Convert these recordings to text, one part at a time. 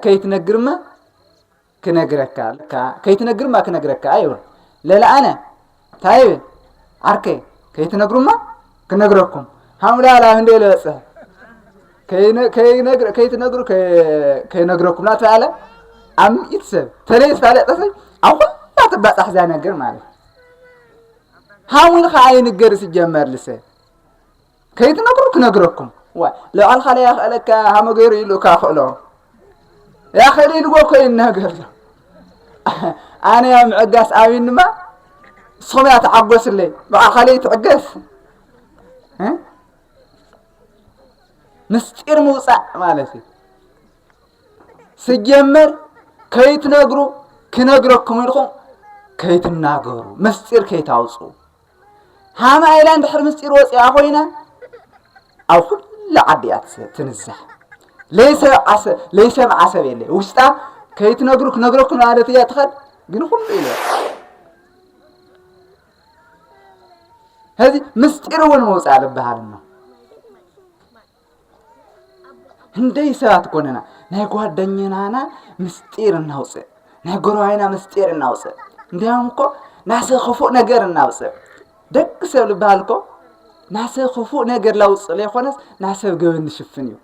ከይትነግርማ ክነግረካ ለካ ከይትነግርማ ክነግረካ ይብል ለለ ኣነ እንታይ ይብል ዓርከይ ከይትነግሩማ ክነግረኩም ሃምላላ እንደ ለበፅሐ ከይትነግሩ ከይነግረኩም ናት ኣለ ኣብ ምኢት ሰብ ተለይ ዝፋለጠሰ ኣብ ኩላ ትባፃሕ እዛ ነገር ማለት ሃሙን ከዓ ይንገር ዝጀመር ልሰ ከይትነግሩ ክነግረኩም ዋይ ልዕልካ ለይ ያክእለካ ሃመ ገይሩ ኢሉ እካ ክእሎ ያክእል ኢልዎ እኮ ይናገር ዘሎ ኣነ ያ ምዕጋስ ኣሚን ድማ ንስኹም እያ ተዓጎስለይ ብዓልካ ለይ ትዕገስ ምስጢር ምውፃእ ማለት እዩ ስጀመር ከይትነግሩ ክነግረኩም ኢልኩም ከይትናገሩ ምስጢር ከይታውፅኡ ሃማ ኢላ እንድሕር ምስጢር ወፂኣ ኮይና ኣብ ኩሉ ዓዲ እያ ትንዛሕ ለይሰምዓ ሰብ የለ ውሽጣ ከይትነግሩ ክነግረኩ ማለት እያ ትኸድ ግን ኩሉ ኢለ ህዚ ምስጢር እውን መውፃእ ዝበሃል እሞ ህንደይ ሰባት ኮነና ናይ ጓደኛናና ምስጢር እናውፅእ ናይ ጎረባይና ምስጢር እናውፅእ እንዲያውም እኮ ናሰ ክፉእ ነገር እናውፅእ ደቂ ሰብ ልበሃል እኮ ናሰ ክፉእ ነገር ላውፅእ ለይኮነስ ናሰብ ገበን ንሽፍን እዩ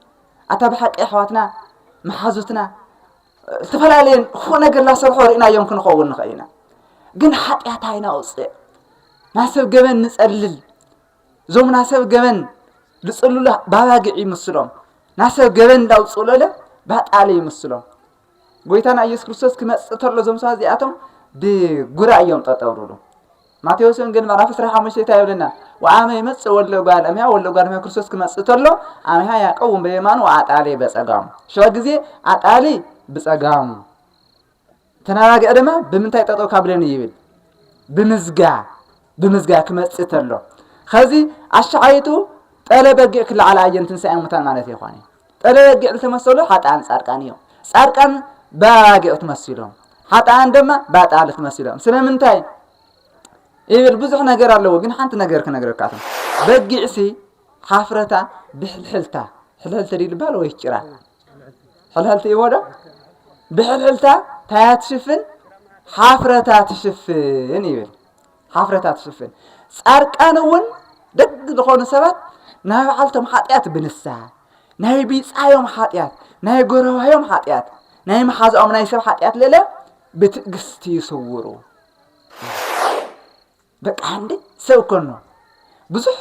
ኣታ ብሓቂ ኣሕዋትና መሓዙትና ዝተፈላለየን ክፉእ ነገር ላሰርሖ ርኢናዮም ክንኸውን ንኽእል ኢና ግን ሓጢኣት ኣይናውፅእ ናሰብ ገበን ንፀልል እዞም ናሰብ ገበን ዝጽሉለ ባባግዕ ይምስሎም ናሰብ ገበን እንዳውጽኡለለ ባጣለ ይምስሎም ጎይታና ኢየሱስ ክርስቶስ ክመጽእ ተሎ እዞም ሰባት እዚኣቶም ብጉራ እዮም ጠጠው ዝብሉ ማቴዎስ ወንጌል ምዕራፍ 15 እንታይ ይብለና ወአመ ይመጽእ ወለ ጓል እምያ ወለ ጓል እምያ ክርስቶስ ክመጽእ ተሎ ኣምያ ያቀውም በየማኑ ወአጣሌ በጸጋሙ ሸዋ ግዜ ኣጣሊ ብጸጋሙ ተናጋግዕ ድማ ብምንታይ ጠጠው ካብለኒ ይብል ብምዝጋ ብምዝጋ ክመጽእ ተሎ ከዚ ኣሻዓይቱ ጠለ በጊዕ ክለዓል ኣየን ትንሳኤ ሙታን ማለት ይኾነ ጠለ በጊዕ ዝተመሰሉ ሓጣን ጻድቃን እዮም ጻድቃን በራጊዕ ትመሲሎም ሓጣን ድማ ባጣል ትመሲሎም ስለምንታይ ይብል ብዙሕ ነገር ኣለዎ ግን ሓንቲ ነገር ክነግረካ እቶም በጊዕሲ ሓፍረታ ብሕልሕልታ ሕልሕልተ ድዩ ዝበሃል ወይ ጭራ ሕልሕልቲ እዎ ዶ ብሕልሕልታ ታያ ትሽፍን ሓፍረታ ትሽፍን ይብል ሓፍረታ ትሽፍን ጻርቃን እውን ደግ ዝኾኑ ሰባት ናይ በዓልቶም ሓጢኣት ብንስሓ ናይ ቢጻዮም ሓጢኣት ናይ ጎረባዮም ሓጢኣት ናይ መሓዛኦም ናይ ሰብ ሓጢኣት ልእለ ብትእግስቲ ይስውሩ በቃ ሃምሌ ሰብ ኮኖ ብዙሕ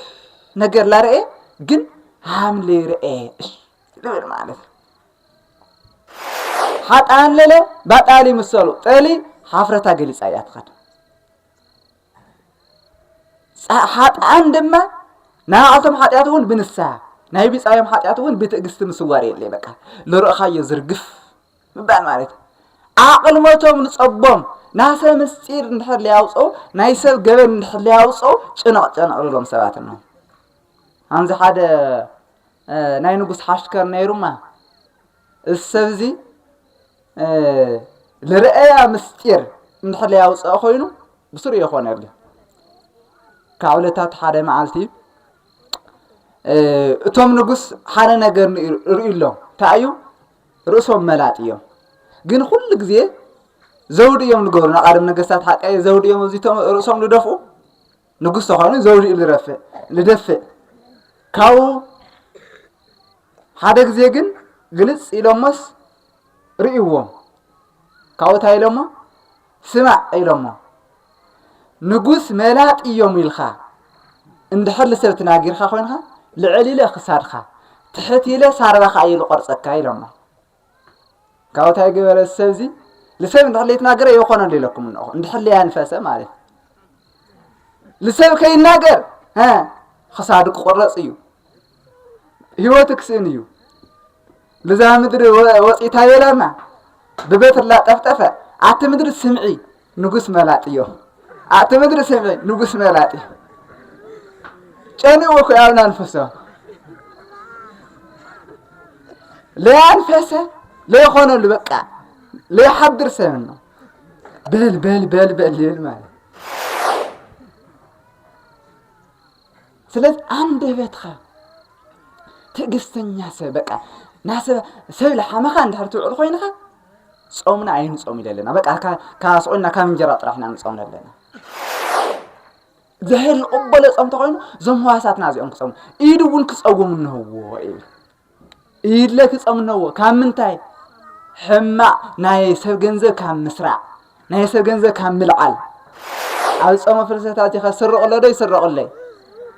ነገር ላረኤ ግን ሃምሌ ረኤ ልብል ማለት እዩ ሓጣን ለለ ባጣሊ ምሰሉ ጠሊ ሓፍረታ ገሊፃ እያ ትኸድ ሓጣን ድማ ናባዕልቶም ሓጢኣት እውን ብንስሃ ናይ ቢፃዮም ሓጢኣት እውን ብትእግስቲ ምስዋር የለ በቃ ልርእኻዮ ዝርግፍ ምባል ማለት እዩ። ኣቕልሞቶም ንጸቦም ናሰ ምስጢር እንድሕር ለያውፀው ናይ ሰብ ገበን እንድሕር ለያውፀው ጭነቕ ጨነቕ ልሎም ሰባት ነው ኣንዚ ሓደ ናይ ንጉስ ሓሽከር ነይሩማ እዚ ሰብ እዚ ልርአያ ምስጢር እንድሕር ያውፅኦ ኮይኑ ብስሩ የኾነሉ ካብ ዕለታት ሓደ መዓልቲ እቶም ንጉስ ሓደ ነገር ርእዩ ኣሎ እንታይ እዩ ርእሶም መላጥ እዮም ግን ኩሉ ግዜ ዘውዲ እዮም ዝገብሩ ንቃደም ነገስታት ሓቀየ ዘውዲ እዮም ኣብዚቶም ርእሶም ዝደፍኡ ንጉስ ተኾይኑ ዘውዲ እዩ ዝረፍእ ዝደፍእ ካብኡ ሓደ ግዜ ግን ግልፅ ኢሎሞስ ርእይዎም ካብኡ እንታይ ኢሎሞ ስማዕ ኢሎሞ ንጉስ መላጥ ኢዮም ኢልካ እንድሕር ልሰብ ትናጊርካ ኮይንካ ልዕል ኢለ ክሳድካ ትሕት ኢለ ሳርባካ ኢየ ልቆርጸካ ኢሎሞ ካብኡ ታይ ገበረ ሰብዚ ልሰብ እንድሕር ለይትናገረ የኮነሉ ኢለኩም እንኹ እንድሕር ለያንፈሰ ማለት ልሰብ ከይናገር ክሳዱ ክቁረጽ እዩ ህይወቱ ክስእን እዩ ልዛ ምድሪ ወፂእታ የላና ብበትርላ ጠፍጠፈ ኣቲ ምድሪ ስምዒ ንጉስ መላጥ እዮ ኣቲ ምድሪ ስምዒ ንጉስ መላጥ እዩ ጨኒኡ ኮይ ኣብና ንፈሶ ለያንፈሰ ለይኾነሉ በቃ ለይሓድር ሰብ ነው በል በል በል በል ይብል ማለት ስለዚ ኣንደበትካ ትዕግስተኛ ሰብ በቃ ናሰብ ሰብ ልሓመኻ እንድሕር ትውዕል ኮይንኻ ጾምና ኣይንጾም ኢለ ኣለና በቃ ካብ ስቆና ካብ እንጀራ ጥራሕ ኢና ንጾም ኣለና እግዚኣብሔር ይቕበሎ ጾም ተኾይኑ እዞም ህዋሳትና እዚኦም ክጸሙ ኢድ እውን ክጸውም እንህዎ እዩ ኢድለ ትጸምነዎ ካብ ምንታይ ሕማቅ ናይ ሰብ ገንዘብ ካብ ምስራዕ ናይ ሰብ ገንዘብ ካብ ምልዓል ኣብ ጾመ ፍልሰታ እዚኸ ስርቕሎ ዶ ይስረቕለይ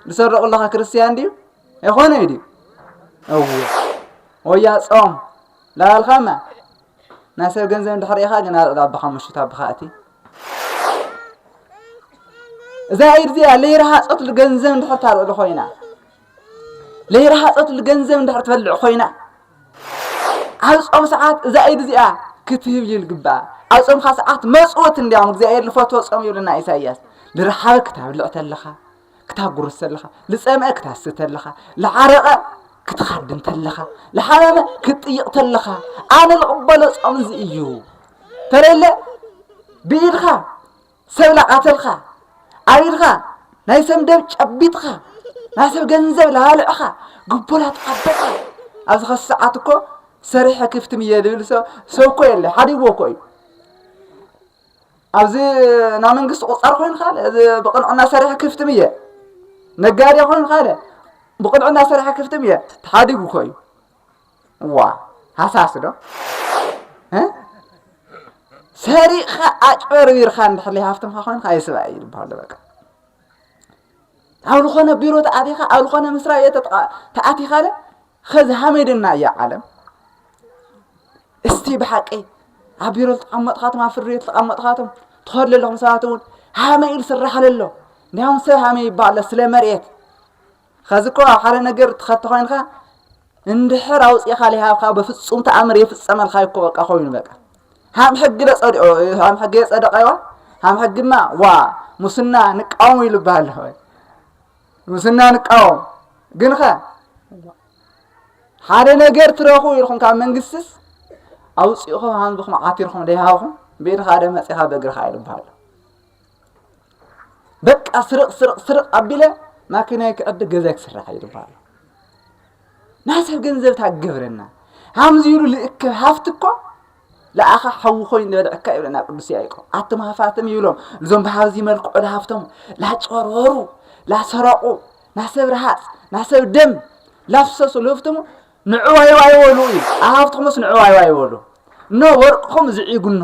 ዝሰርቕለኻ ክርስትያን ድዩ ኣይኮነ እዩ ድዩ እዎ ወያ ጾም ላባልካማ ናይ ሰብ ገንዘብ እንድሕር ኢኻ ግን ኣልዕል ኣባኻ ምሽት ኣባኻ እቲ እዛ ኢድ እዚኣ ለይረሃጸት ገንዘብ እንድሕር ታልዕሉ ኮይና ለይረሃፀትሉ ገንዘብ እንድሕር ትበልዕ ኮይና ኣብ ጾም ሰዓት እዛ ኢድ እዚኣ ክትህብ እዩ ልግባኣ ኣብ ጾምካ ሰዓት መፅወት እንዲያውም እግዚኣብሔር ልፈትዎ ጾም ይብለና ኢሳይያስ ልረሓበ ክታብልዕ ተለኻ ክታጉርስ ተለኻ ልፀምአ ክታስተ ተለኻ ልዓረቐ ክትኻድም ተለኻ ልሓመመ ክትጥይቕ ተለኻ ኣነ ልቕበሎ ጾም እዚ እዩ ተለለ ብኢድኻ ሰብ ላቃተልካ ኣቢልካ ናይ ሰብ ንደብ ጨቢጥካ ናይ ሰብ ገንዘብ ላባልዕካ ግቦ ላተቀበልካ ኣብዚ ከስ ሰዓት እኮ ሰሪሐ ክፍትም እየ ዝብል ሰ- ሰው እኮ የለ ሓዲግዎ እኮ እዩ ኣብዚ ናይ መንግስቲ ቁፃር ኮይንካ ኣለ እዚ ብቅንዕና ሰሪሐ ክፍትም እየ ነጋዴ ኮይንካ ኣለ ብቅንዕና ሰሪሐ ክፍትም እየ ተሓዲጉ እኮ እዩ እዋ ሃሳስ ዶ እ ሰሪቕኻ ኣጭበርቢርኻ እንድሕር ዘይሃፍትምካ ኮይንካ ኣይስባእ እዩ ዝበሃሉ በቃ ኣብ ዝኾነ ቢሮ ተኣቲኻ ኣብ ዝኾነ ምስራይ ቤት ተኣቲኻለ ኸዚ ሃመይ ድና እያ ዓለም እስቲ ብሓቂ ኣብ ቢሮ ዝተቐመጥኻቶም ኣብ ፍርድ ቤት ዝተቐመጥኻቶም ትኸዱ ዘለኹም ሰባት እውን ሃመይ ኢሉ ስራሕ ኣለሎ እንዲያውም ሰብ ሃመይ ይበሃሎ ስለ መሬት ኸዚ እኮ ኣብ ሓደ ነገር ትኸቲ ኮይንካ እንድሕር ኣውፂእኻ ሊሃብካ በፍፁም ተኣምር የፍፀመልካ እኮ በቃ ኮይኑ በቃ ሃም ሕጊ ለፀዲኦ ሃም ሕጊ የፀደቀዋ ሃም ሕግማ ዋ ሙስና ንቃወሙ ኢሉ ይበሃል ኣለኹ ሙስና ንቃወም ግን ኸ ሓደ ነገር ትረኽቡ ኢልኩም ካብ መንግስትስ ኣውፂእኹም ሃምዝኹም ዓቲርኹም ደይሃብኹም ብኢድኻ ደ መፂኻ በእግርኻ ኢሉ ይበሃል በቃ ስርቕ ስርቕ ስርቕ ኣቢለ ማኪናይ ክዕድግ ገዛይ ክስራሕ እዩ ድበሃሉ ናይ ሰብ ገንዘብ ታገብረና ሃምዚ ኢሉ ልእክብ ሃፍቲ እኮ ለኣኻ ሓዊ ኮይኑ ዝበልዐካ ይብለና ቅዱስ ያዕቆብ ኣቶም ሃፋትም ይብሎም እዞም ብሃብዚ መልክዑ ለሃፍቶም ላጨርበሩ ላሰረቑ ናሰብ ረሃፅ ናሰብ ደም ላፍሰሱ ልህፍትሙ ንዕዋይዋ ይበሉ እዩ ኣሃፍትኹምስ ንዕዋይዋ ይበሉ እኖ ወርቅኹም ዝዒጉኖ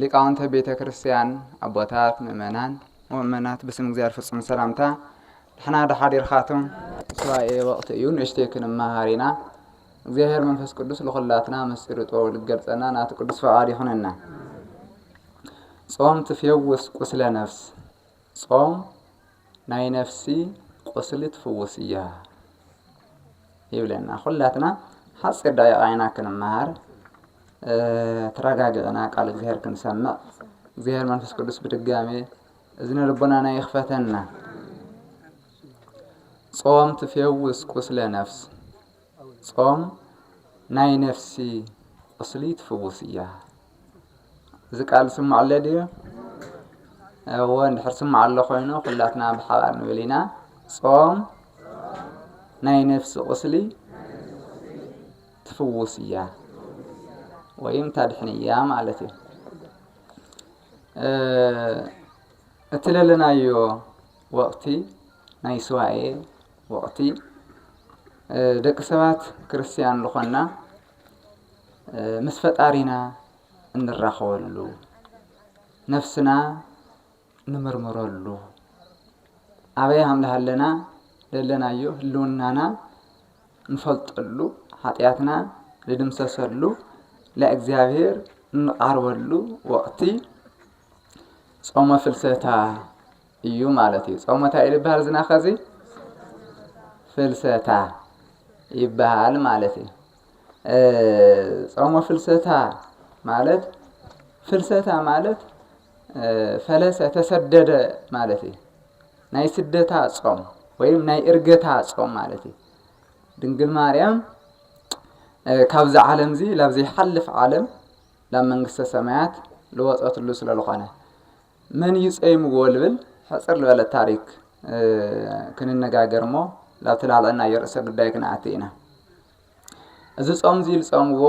ሊቃውንተ ቤተ ክርስቲያን፣ ኣቦታት፣ ምእመናን። ወምእመናት ብስም እግዚኣብሔር ፍጹም ሰላምታ ድሕና ዶ ሓዲርካቱም። ሱባኤ ወቕቲ እዩ ንእሽተይ ክንመሃር ኢና። እግዚኣብሔር መንፈስ ቅዱስ ልኹላትና ምስጢሩ ጥበቡ ልገልጸና ናቱ ቅዱስ ፍቓድ ይኹነና። ጾም ትፌውስ ቁስለ ነፍስ ጾም ናይ ነፍሲ ቁስሊ ትፍውስ እያ ይብለና። ኩላትና ሓፂር ደቂቃ ኢና ክንመሃር ተረጋጊዕና ቃል እግዚኣብሔር ክንሰምዕ እግዚኣብሔር መንፈስ ቅዱስ ብድጋሜ እዝነ ልቦናና ይኽፈተና። ጾም ትፌውስ ቁስለ ነፍስ ጾም ናይ ነፍሲ ቁስሊ ትፍውስ እያ እዚ ቃል ዝስማዕ ኣሎ ድዩ? እወ እንድሕር ዝስማዕ ኣሎ ኮይኑ ኩላትና ብሓባር ንብል ኢና ጾም ናይ ነፍሲ ቁስሊ ትፍውስ እያ ወይም ታድሕን እያ ማለት እዩ። እቲ ለለናዮ ወቕቲ ናይ ስዋኤ ወቅቲ ደቂ ሰባት ክርስትያን ልኾንና ምስ ፈጣሪና እንራኸበሉ ነፍስና ንምርምረሉ ኣበይ ኣምላኽ ኣለና ደለናዮ ህልውናና ንፈልጠሉ ሓጢኣትና ንድምሰሰሉ ለእግዚኣብሔር እንቓርበሉ ወቅቲ ጾመ ፍልሰታ እዩ ማለት እዩ ጾሞ እንታይ እዩ ዝበሃል ዝናኸ እዚ ፍልሰታ ይበሃል ማለት እዩ ጾሞ ፍልሰታ ማለት ፍልሰታ ማለት ፈለሰ ተሰደደ ማለት እዩ ናይ ስደታ ጾም ወይም ናይ እርገታ ጾም ማለት እዩ ድንግል ማርያም ካብዚ ዓለም እዚ ላብ ዘይሓልፍ ዓለም ላብ መንግስተ ሰማያት ልወፀትሉ ስለ ዝኾነ መን እዩ ጸይምዎ ልብል ሕጽር ልበለት ታሪክ ክንነጋገር እሞ ላብቲ ላልዕናዮ ርእሰ ጉዳይ ክንኣቲ ኢና። እዚ ጾም እዚ ዝጸምዎ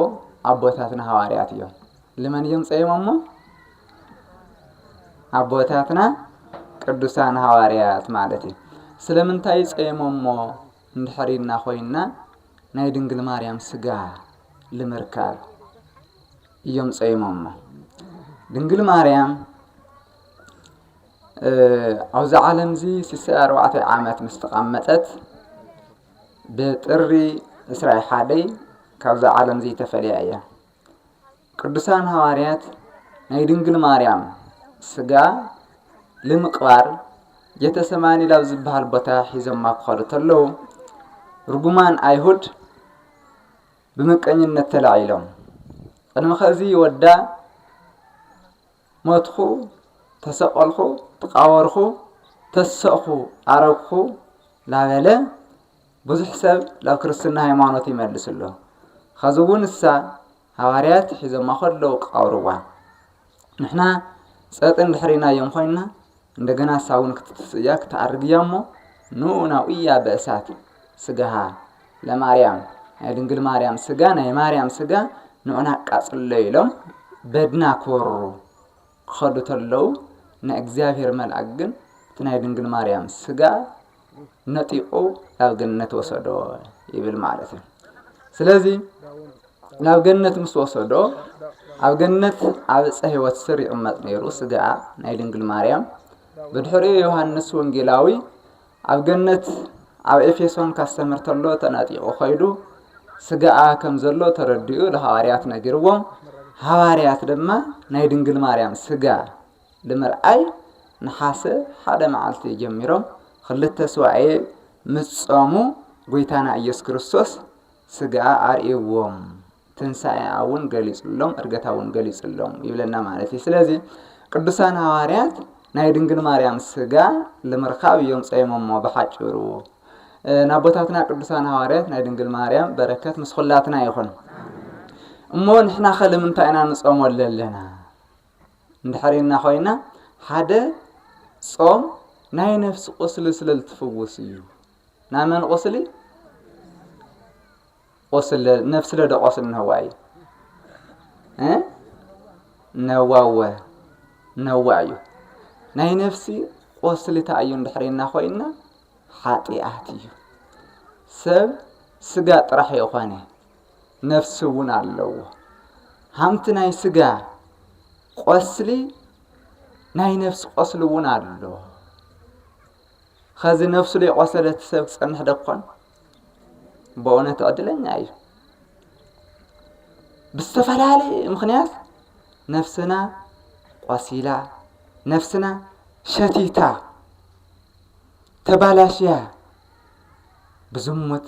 ኣቦታትና ሃዋርያት እዮም። ልመን እዮም ጸይሞሞ? ኣቦታትና ቅዱሳን ሃዋርያት ማለት እዩ። ስለምንታይ ጸይሞሞ እንድሕር ኢልና ኮይንና ናይ ድንግል ማርያም ስጋ ልምርካብ እዮም ጸይሞሞ። ድንግል ማርያም ኣብዚ ዓለም እዚ ስሳይ ኣርባዕተ ዓመት ምስ ተቐመጠት ብጥሪ ዕስራይ ሓደይ ካብዛ ዓለም እዚ ተፈልያ እያ። ቅዱሳን ሃዋርያት ናይ ድንግል ማርያም ስጋ ልምቕባር ጌተሰማኒ ላብ ዝበሃል ቦታ ሒዞማ ክኸዱ ተለዉ ርጉማን ኣይሁድ ብምቀኝነት ተላዒሎም ቅድሚ ከዚ ወዳ ሞትኹ ተሰቀልኹ ተቃበርኹ ተሰእኹ ኣረግኹ ላበለ ብዙሕ ሰብ ናብ ክርስትና ሃይማኖት ይመልስ ኣሎ ኸዚ እውን እሳ ሃዋርያት ሒዞማ ከለዉ ቀብርዋ ንሕና ጸጥ እንድሕር ኢልናዮም ኮይንና እንደገና እሳ እውን ክትትስእ እያ ክትኣርግ እያ እሞ ንኡ ናውእያ በእሳት ስጋሃ ለማርያም ናይ ድንግል ማርያም ስጋ ናይ ማርያም ስጋ ንዑና ኣቃጽሎ ኢሎም በድና ክወሩ ክኸዱ ተለዉ ናይ እግዚኣብሔር መልኣክ ግን እቲ ናይ ድንግል ማርያም ስጋ ነጢቑ ናብ ገነት ወሰዶ ይብል ማለት እዩ ስለዚ ናብ ገነት ምስ ወሰዶ ኣብ ገነት ኣብ ዕፀ ህይወት ስር ይቕመጥ ነይሩ ስጋ ናይ ድንግል ማርያም ብድሕሪኡ ዮሃንስ ወንጌላዊ ኣብ ገነት ኣብ ኤፌሶን ካስተምር ተሎ ተናጢቑ ኸይዱ ስጋኣ ከም ዘሎ ተረዲኡ ንሃዋርያት ነጊርዎም ሃዋርያት ድማ ናይ ድንግል ማርያም ስጋ ብምርኣይ ነሓሰ ሓደ መዓልቲ ጀሚሮም ክልተ ሱባኤ ምስ ጾሙ ጐይታና ኢየሱስ ክርስቶስ ስግኣ ኣርእይዎም ትንሣኤኣ እውን ገሊጹሎም እርገታ እውን ገሊጹሎም ይብለና ማለት እዩ ስለዚ ቅዱሳን ሃዋርያት ናይ ድንግል ማርያም ስጋ ልምርካብ እዮም ጸይሞሞ ብሓጭሩ ናቦታትና ቅዱሳን ሃዋርያት ናይ ድንግል ማርያም በረከት ምስ ኩላትና ይኹን እሞ ንሕና ከ ንምንታይ ኢና ንጾመሉ ኣለና እንድሕር ኢልና ኮይና ሓደ ጾም ናይ ነፍሲ ቁስሊ ስለ ዝትፍውስ እዩ ናይ መን ቁስሊ ቁስሊ ነፍሲ ለደ ቁስሊ ነዋ እዩ ነዋወ ነዋ እዩ ናይ ነፍሲ ቁስሊታ እዩ እንድሕር ኢልና ኮይና ሓጢኣት እዩ ሰብ ስጋ ጥራሕ የኾነ ነፍሲ እውን ኣለዎ። ሃምቲ ናይ ስጋ ቆስሊ ናይ ነፍሲ ቆስሊ እውን ኣሎ። ከዚ ነፍሱ ዘይቆሰለት ሰብ ትጸንሕ ደኮን? በእውነት ዕድለኛ እዩ። ብዝተፈላለየ ምክንያት ነፍስና ቆሲላ፣ ነፍስና ሸቲታ፣ ተባላሽያ ብዝሙት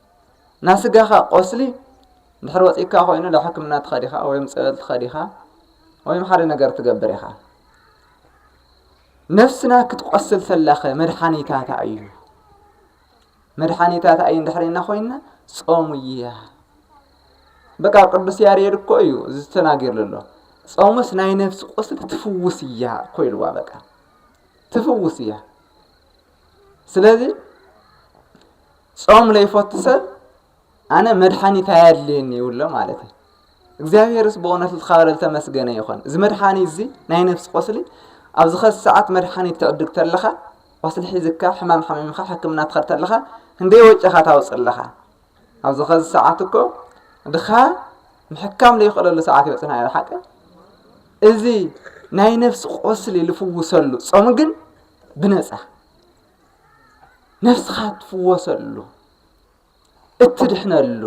ናይ ስጋኻ ቆስሊ ድሕሪ ወፂካ ኮይኑ ናብ ሕክምና ትኸድ ኢኻ ወይም ፀበል ትኸድ ኢኻ ወይም ሓደ ነገር ትገብር ኢኻ ነፍስና ክትቆስል ሰላኸ መድሓኒታት እዩ መድሓኒታት እዩ እንድሕሪና ኮይና ጾሙ እያ በቃ ቅዱስ ያሬድ እኮ እዩ ዝተናገርሉ ኣሎ ጾሙስ ናይ ነፍሲ ቁስሊ ትፍውስ እያ እኮ ኢልዋ በቃ ትፍውስ እያ ስለዚ ጾም ለይፈቱ ሰብ ኣነ መድሓኒት ኣየድልየኒ ይብሎ ማለት እዩ እግዚኣብሔርስ ብእውነት ዝኸበረ ዝተመስገነ ይኾን እዚ መድሓኒት እዚ ናይ ነፍሲ ቆስሊ ኣብዚ ኸዚ ሰዓት መድሓኒት ትዕድግ ተለኻ ቆስሊ ሒዝካ ሕማም ሓሚምካ ሕክምና ትኸድ ተለኻ ክንደይ ወጪኻ ታውፅ ኣለኻ ኣብዚ ኸዚ ሰዓት እኮ ድኻ ምሕካም ዘይኽእለሉ ሰዓት ይበፅና ኢና ሓቂ እዚ ናይ ነፍሲ ቆስሊ ልፍውሰሉ ጾም ግን ብነፃ ነፍስኻ እትፍወሰሉ እትድሕነሉ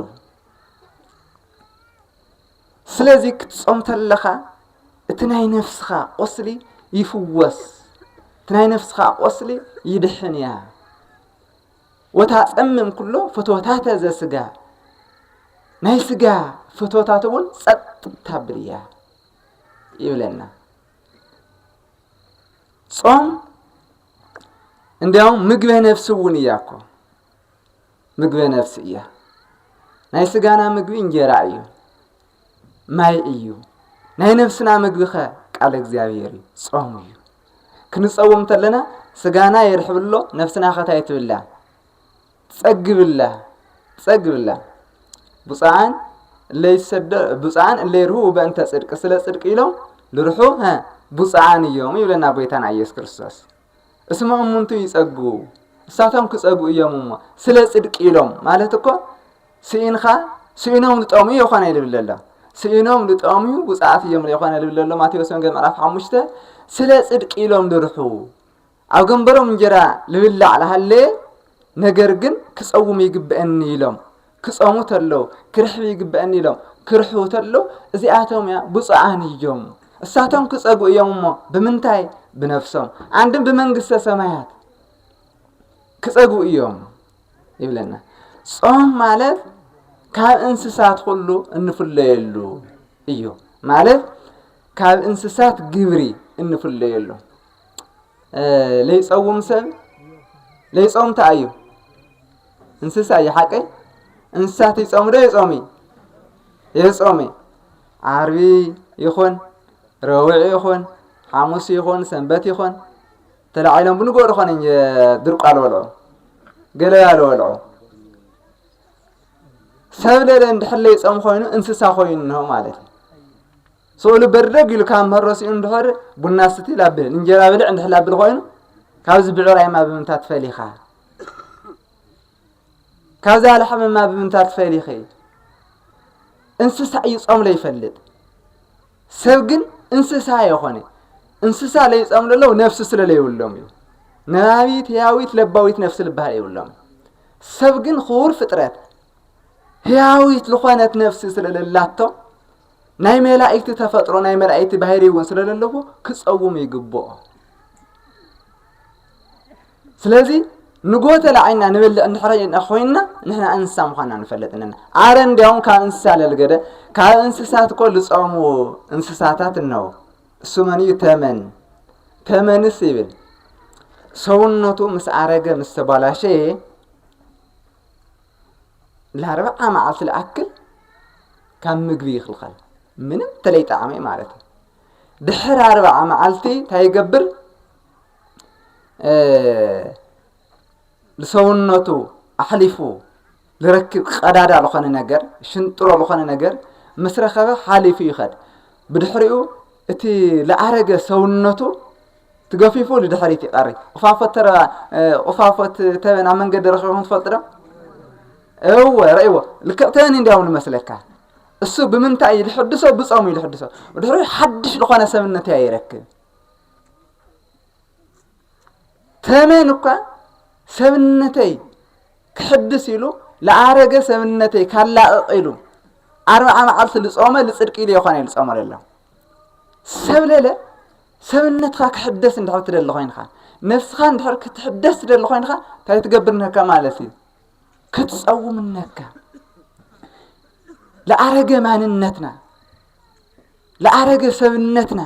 ስለዚ ክትጾም ተለኻ እቲ ናይ ነፍስኻ ቁስሊ ይፍወስ እቲ ናይ ነፍስኻ ቁስሊ ይድሕን እያ ወታፀምም ኩሎ ፍትወታተ ዘስጋ ናይ ስጋ ፍትወታት እውን ጸጥ ታብል እያ ይብለና ጾም እንዲያውም ምግበ ነፍሲ እውን እያ እኮ ምግበ ነፍሲ እያ። ናይ ስጋና ምግቢ እንጀራ እዩ፣ ማይ እዩ። ናይ ነፍስና ምግቢ ኸ ቃል እግዚኣብሔር እዩ፣ ጾም እዩ። ክንጸውም ተለና ስጋና የርሕብሎ ነፍስና ኸታይ ትብላ ጸግብላ ጸግብላ ብፁዓን እለ ይሰደዑ ብፁዓን እለ ይርህው በእንተ ጽድቅ ስለ ጽድቅ ኢሎም ልርሑ ሀ ብፁዓን እዮም ይብለና ጎይታና ኢየሱስ ክርስቶስ እስመ እሙንቱ ይጸጉ እሳቶም ክጸጉ እዮም እሞ ስለ ጽድቅ ኢሎም ማለት እኮ ስኢንኻ ስኢኖም ልጠሙ የኾነ ይልብል ኣሎ ስኢኖም ልጠሙ ብፅዓት እዮም የኾነ ልብል ኣሎ ማቴዎስ ወንጌል ምዕራፍ ሓሙሽተ ስለ ጽድቅ ኢሎም ልርሑ ኣብ ገንበሮም እንጀራ ልብላዕ ልሃለየ ነገር ግን ክጸውም ይግበእኒ ኢሎም ክጸሙ ተለው ክርሕብ ይግበእኒ ኢሎም ክርሕቡ ተለው እዚኣቶም እያ ብፁዓን እዩም እሳቶም ክጸጉ እዮም እሞ ብምንታይ ብነፍሶም ኣንድም ብመንግስተ ሰማያት ክጸጉ እዮም ይብለና ጾም ማለት ካብ እንስሳት ኩሉ እንፍለየሉ እዩ ማለት ካብ እንስሳት ግብሪ እንፍለየሉ ለይፀውም ሰብ ለይፆም እንታይ እዩ እንስሳ እዩ ሓቂ እንስሳት ይፆም ዶ ይፆሚ የፆሚ ዓርቢ ይኹን ረውዒ ይኹን ሓሙስ ይኹን ሰንበት ይኹን ተላዒሎም ብንጎ ዝኾነ ድርቋ ልበልዑ ገለያ ልበልዑ ሰብ ለለ እንድሕር ለይፆም ኮይኑ እንስሳ ኮይኑ ማለት እዩ ስእሉ በርደግ ኢሉ ካብ ምህሮ ስኢኑ እንድሕር ቡና ስቲ ላብል እንጀራ ብልዕ እንድሕር ላብል ኮይኑ ካብዚ ብዕራይማ ብምንታት ፈሊኻ ካብዚ ኣልሓምማ ብምንታት ፈሊኺ እንስሳ እዩ ጾም ለይፈልጥ ሰብ ግን እንስሳ የኾነ እንስሳ ለይጸም ለለው ነፍሲ ስለ ለይብሎም እዩ ነባቢት ህያዊት ለባዊት ነፍሲ ልበሃል የብሎም ሰብ ግን ክቡር ፍጥረት ህያዊት ዝኾነት ነፍሲ ስለለላቶ ናይ መላእክቲ ተፈጥሮ ናይ መላእክቲ ባህሪ እውን ስለ ዘለዎ ክፀውሙ ይግብኦ ስለዚ ንጎተ ላዕና ንበልዕ እንድሕረ ኮይንና ንሕና እንስሳ ምዃንና ንፈልጥ ኣለና ኣረ እንዲያውም ካብ እንስሳ ለልገደ ካብ እንስሳት እኮ ዝፀሙ እንስሳታት እነው እሱ መን እዩ ተመን ተመንስ ይብል ሰውነቱ ምስ ኣረገ ምስ ተባላሸየ ላርብዓ መዓልቲ ልኣክል ካብ ምግቢ ይኽልኸል ምንም ተለይ ጣዕመ ማለት እዩ ድሕር ኣርብዓ መዓልቲ እንታይ ይገብር ንሰውነቱ ኣሕሊፉ ዝረክብ ቀዳዳ ዝኾነ ነገር ሽንጥሮ ዝኾነ ነገር ምስ ረኸበ ሓሊፉ ይኸድ ብድሕሪኡ እቲ ለኣረገ ሰውነቱ ትገፊፉ ንድሕሪት ይቀሪ ቁፋፎት ተረባ ቁፋፎት ተበን ኣብ መንገዲ ረኺብኩም ትፈልጡ ዶ እወ ረእዎ ልክዕ ተበን እንዲያው ንመስለካ እሱ ብምንታይ እዩ ዝሕድሶ ብጾም እዩ ዝሕድሶ ድሕሪ ሓድሽ ዝኾነ ሰብነት እያ ይረክብ ተመን እኳ ሰብነተይ ክሕድስ ኢሉ ዝኣረገ ሰብነተይ ካላቕቕ ኢሉ ኣርብዓ መዓልቲ ዝጾመ ዝጽድቂ ኢሉ የኾነ እዩ ዝጾመ ዘሎ ሰብ ለለ ሰብነትካ ክሕደስ እንድሕር ትደሊ ኮይንካ ነፍስኻ እንድሕር ክትሕደስ ትደሊ ኮይንካ እንታይ ትገብር ነካ ማለት እዩ ክትፀውም ነካ ለኣረገ ማንነትና ለኣረገ ሰብነትና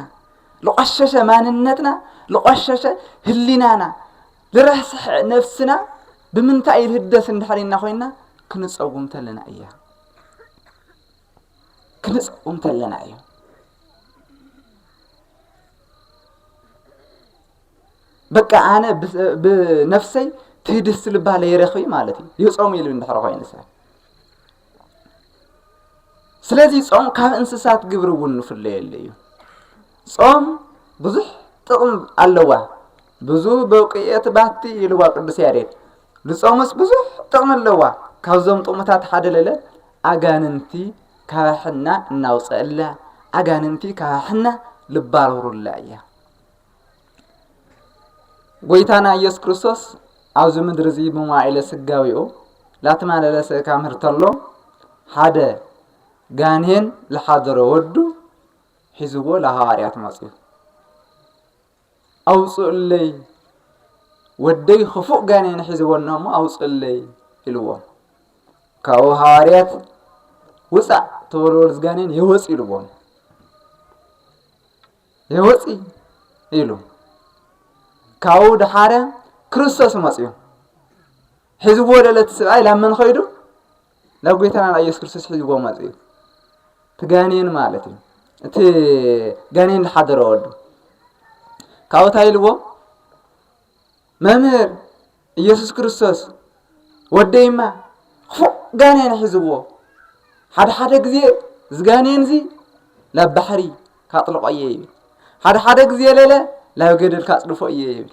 ለቆሸሸ ማንነትና ለቆሸሸ ህሊናና ልረስሐ ነፍስና ብምንታይ ልህደስ እንድሕር ኢና ኮይና ክንፀውም ተለና እያ ክንጽኦም ከለና እዩ። በቃ ኣነ ብነፍሰይ ትህድስ ልባ ለይረኺ ማለት እዩ ይጾሙ ኢሉ እንድሕር ኮይኑ ሰብ ስለዚ ጾም ካብ እንስሳት ግብሪ እውን ንፍለየሉ እዩ ጾም ብዙሕ ጥቕም ኣለዋ ብዙ በውቅየት ባቲ ኢልዋ ቅዱስ ያሬድ ልጾምስ ብዙሕ ጥቕሚ ኣለዋ ካብዞም ጥቕምታት ሓደ ለለ ኣጋንንቲ ካብ ሕና እናውፀእላ ኣጋንንቲ ካብ ሕና ልባረሩላ እያ ጎይታና ኢየሱስ ክርስቶስ ኣብዚ ምድሪ እዚ ብመዋዒለ ስጋዊኡ ላተማለለ ስእካ ምህርተሎ ሓደ ጋኔን ዝሓደሮ ወዱ ሒዝዎ ለሃዋርያት መፅኡ ኣውጽኡለይ ወደይ ኽፉእ ጋኔን ሒዝዎና እሞ ኣውጽኡለይ ኢልዎም ካብኡ ሃዋርያት ውፃእ ተወልወል ዝጋኔን የወፅ ኢልዎም የወፅ ኢሉ ካብኡ ድሓረ ክርስቶስ መፅኡ ሒዝዎ ወደ ለቲ ስብኣይ ላብ መን ኸይዱ ናብ ጎይታና ናብ ኢየሱስ ክርስቶስ ሒዝዎ መጽ እዩ እቲ ጋኔን ማለት እዩ እቲ ጋኔን ዝሓደረ ወዱ ካብኡ እንታይ ኢልዎ መምህር ኢየሱስ ክርስቶስ ወደይማ ክፉእ ጋኔን ሒዝዎ ሓደ ሓደ ግዜ ዝጋኔን እዚ ላብ ባሕሪ ካጥልቆ እየ ይብል ሓደ ሓደ ግዜ ለለ ላብ ገደል ካጽድፎ እየ ይብል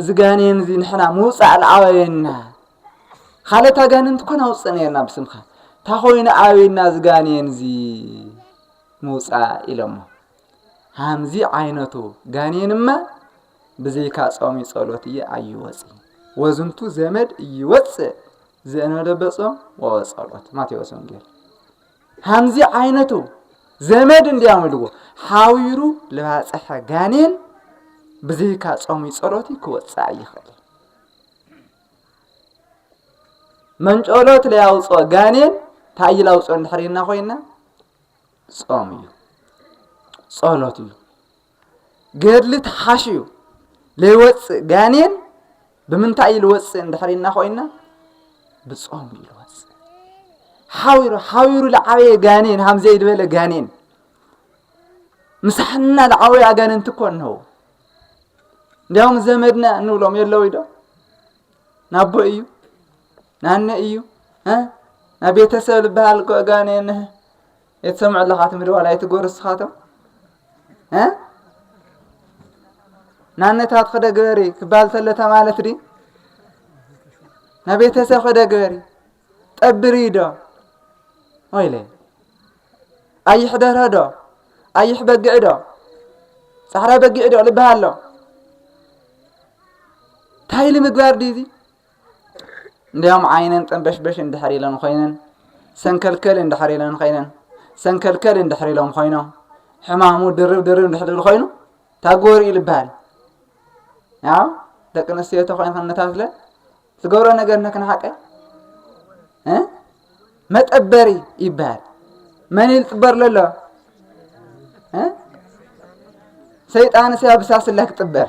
እዚ ጋኔን እዚ ንሕና ምውፃእ ንኣበየና ካልኦት ኣጋንንቲ ኮን ኣውፅእ ነርና ብስምካ እታ ኮይኑ ኣበየና እዚ ጋኔን እዚ ምውፃእ ኢሎሞ ሃምዚ ዓይነቱ ጋኔንማ ብዘይካ ጾም ጸሎት እየ ኣይወፅ ወዝንቱ ዘመድ እይወፅእ ዘእነደበጾም ወወጸሎት ማቴዎስ ወንጌል ሃምዚ ዓይነቱ ዘመድ እንዲያም ኢልዎ ሓዊሩ ልባጽሐ ጋኔን ብዘይካ ጾሚ ጸሎቲ ክወጽእ ኣይኽእል መንጨሎት ለያውፅኦ ጋኔን እንታይ ይላውፅኦ እንድሕር ኮይና ጾም እዩ ጸሎት እዩ ገድሊ ተሓሽዩ ለይወፅእ ጋኔን ብምንታይ እዩ ልወፅእ እንድሕር ኢልና ኮይና ብጾም እዩ ልወፅእ ሓዊሩ ሓዊሩ ልዓበየ ጋኔን ሃምዘይ ዝበለ ጋኔን ምሳሕና ልዓበዩ ኣጋንንቲ እኮ እንሆው እንዲያውም ዘመድና እንብሎም የለው ዶ ናቦ እዩ ናነ እዩ ናብ ቤተሰብ ልበሃል እኮ ጋኔን እየ ትሰምዕ ኣለኻ እቲ ምድዋል ኣይትገብሩ እስኻቶም እ ናነታት ክደ ግበሪ ክባል ተሎ ተማለት ዲ ናብ ቤተሰብ ክደ ግበሪ ጠብሪ ዶ ወይለ ኣይሕ ደርሆ ዶ ኣይሕ በጊዕ ዶ ጻዕዳ በጊዕ ዶ ልበሃሎ ታይሊ ምግባር ዲዚ እንዲያውም ዓይነን ጠንበሽበሽ እንድሕር ኢለን ኮይነን ሰንከልከል እንድሕር ኢለን ኮይነን ሰንከልከል እንድሕር ኢሎም ኮይኖም ሕማሙ ድርብ ድርብ እንድሕር ዝብል ኮይኑ ታጎር ኢሉ ይበሃል ያው ደቂ ኣንስትዮ ተኮይን ከነታስለ ዝገብሮ ነገር ነክንሓቀ እ መጠበሪ ይበሃል መን ኢሉ ጥበር ለሎ እ ሰይጣን ስያ ብሳስላ ክጥበር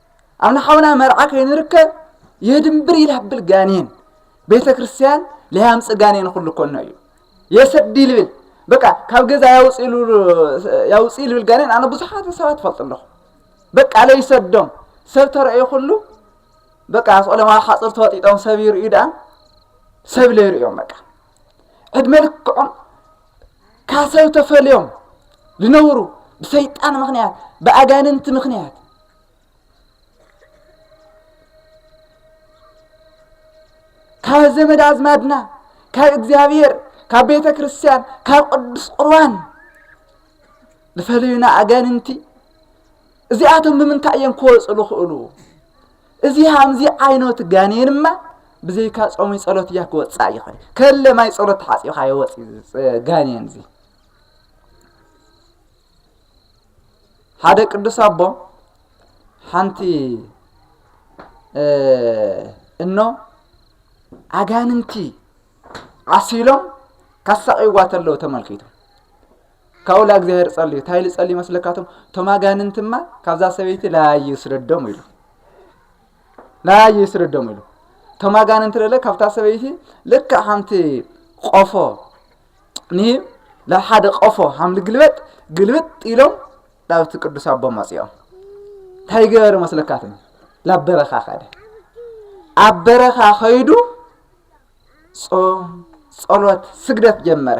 ኣነ ሓውና መርዓ ከይንርከ የድንብር ይላብል ጋኔን ቤተ ክርስቲያን ለያምፅ ጋኔን ኩሉ ኮኖ እዩ የሰዲ ልብል በቃ ካብ ገዛ ያውፅ ልብል ጋኔን ኣነ ብዙሓት ሰባት ፈልጡ ኣለኹ በቃ ለይሰዶም ሰብ ተረእዩ ኩሉ በቃ ስቆለማ ሓፅር ተወጢጦም ሰብ ይርእዩ ደኣ ሰብ ለይርእዮም በቃ ዕድመ ልክዖም ካብ ሰብ ተፈልዮም ዝነብሩ ብሰይጣን ምክንያት ብኣጋንንቲ ምክንያት ካብ ዘመድ ኣዝማድና ካብ እግዚኣብሔር ካብ ቤተ ክርስቲያን ካብ ቅዱስ ቁርባን ዝፈለዩና ኣጋንንቲ እዚኣቶም ብምንታይ እዮም ክወፁ ዝኽእሉ እዚ ሃምዚ ዓይነቱ ጋኔንማ ብዘይካ ጾሙይ ጸሎት እያ ክወጽእ ይኽእል ከለ ማይ ጸሎት ተሓጺብካ ይወጽእ ጋኔን እዚ ሓደ ቅዱስ ኣቦ ሓንቲ እኖ ኣጋንንቲ ዓሲሎም ካሳቂዋ ተለው ተመልኪቱ ካብኡ ላእግዚኣብሔር ጸልዩ እንታይ ኢሉ ጸልዩ መስለካቶም እቶም ኣጋንንትማ ካብዛ ሰበይቲ ላዩ ይስደዶም ኢሉ ላዩ ይስደዶም ኢሉ እቶም ኣጋንንቲ ደለ ካብታ ሰበይቲ ልክዕ ሓንቲ ቆፎ ንሂብ ናብ ሓደ ቆፎ ሓም ልግልበጥ ግልብጥ ኢሎም ናብቲ ቅዱስ ኣቦ መጺኦም እንታይ ገበረ መስለካትም ናብ በረኻ ከደ ኣብ በረኻ ከይዱ ጾም ጸሎት ስግደት ጀመረ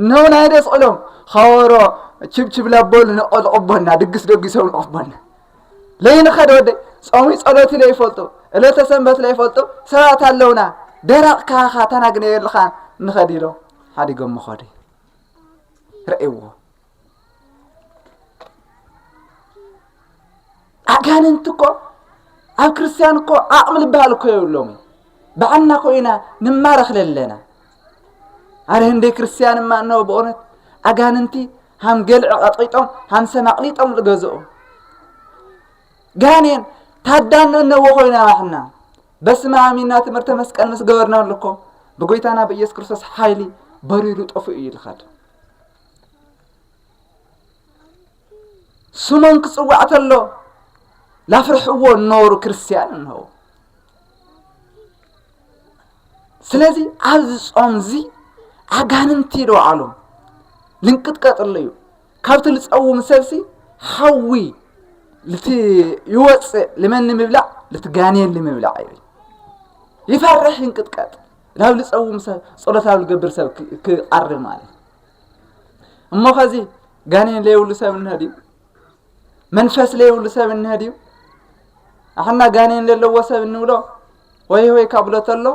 እነሆ ናይ ደስቕሎም ኸበሮ ችብችብ ላበሉ ነቐዝቕቦና ድግስ ደጊሶም ንቕፍቦና ለይንኸድ ወደይ ጾሙይ ጸሎት ለይፈልጡ ዕለተ ሰንበት ለይፈልጡ ሰባት ኣለውና ደረቕ ካኻ ተናግነየልኻ ንኸድ ኢሎም ሓዲጎም መኸዱ ረእይዎ ኣጋንንቲ እኮ ኣብ ክርስትያን እኮ ዓቕሚ ዝበሃል እኮ የብሎምን ባዕልና እኮ ኢና ንማረኽ ለለና ኣነ ህንደይ ክርስትያን እማ እነሆ ብእውነት ኣጋንንቲ ሃም ገልዕ ቀጥቂጦም ሃም ሰም ኣቕሊጦም ዝገዝኦም ጋኔን ታዳኖ እነዎ ኮይና ባሕና በስመ አብ ኢና ትምህርተ መስቀል ምስ ገበርናሉ እኮ ብጎይታና ብኢየሱስ ክርስቶስ ሓይሊ በሪሩ ጠፍኡ እዩ ልኸድ ስሞም ክጽዋዕ ተሎ ላፍርሕዎ እነበሩ ክርስትያን እንሆ ስለዚ ኣብዚ ጾም እዚ ኣጋንንቲ ይደውዓሎም ልንቅጥቀጥሉ እዩ ካብቲ ልፀውም ሰብሲ ሓዊ ልቲ ይወፅእ ልመን ንምብላዕ ልቲ ጋኔን ንምብላዕ እዩ ይፈርሕ ይንቅጥቀጥ ናብ ልጸውም ሰብ ጸሎት ናብ ልገብር ሰብ ክቐርብ ማለት እዩ እሞ ኸዚ ጋኔን ለይብሉ ሰብ እንሀድ እዩ መንፈስ ለይብሉ ሰብ እንሀድ እዩ ኣሕና ጋኔን ዘለዎ ሰብ እንብሎ ወይ ወይ ካብሎ ተሎ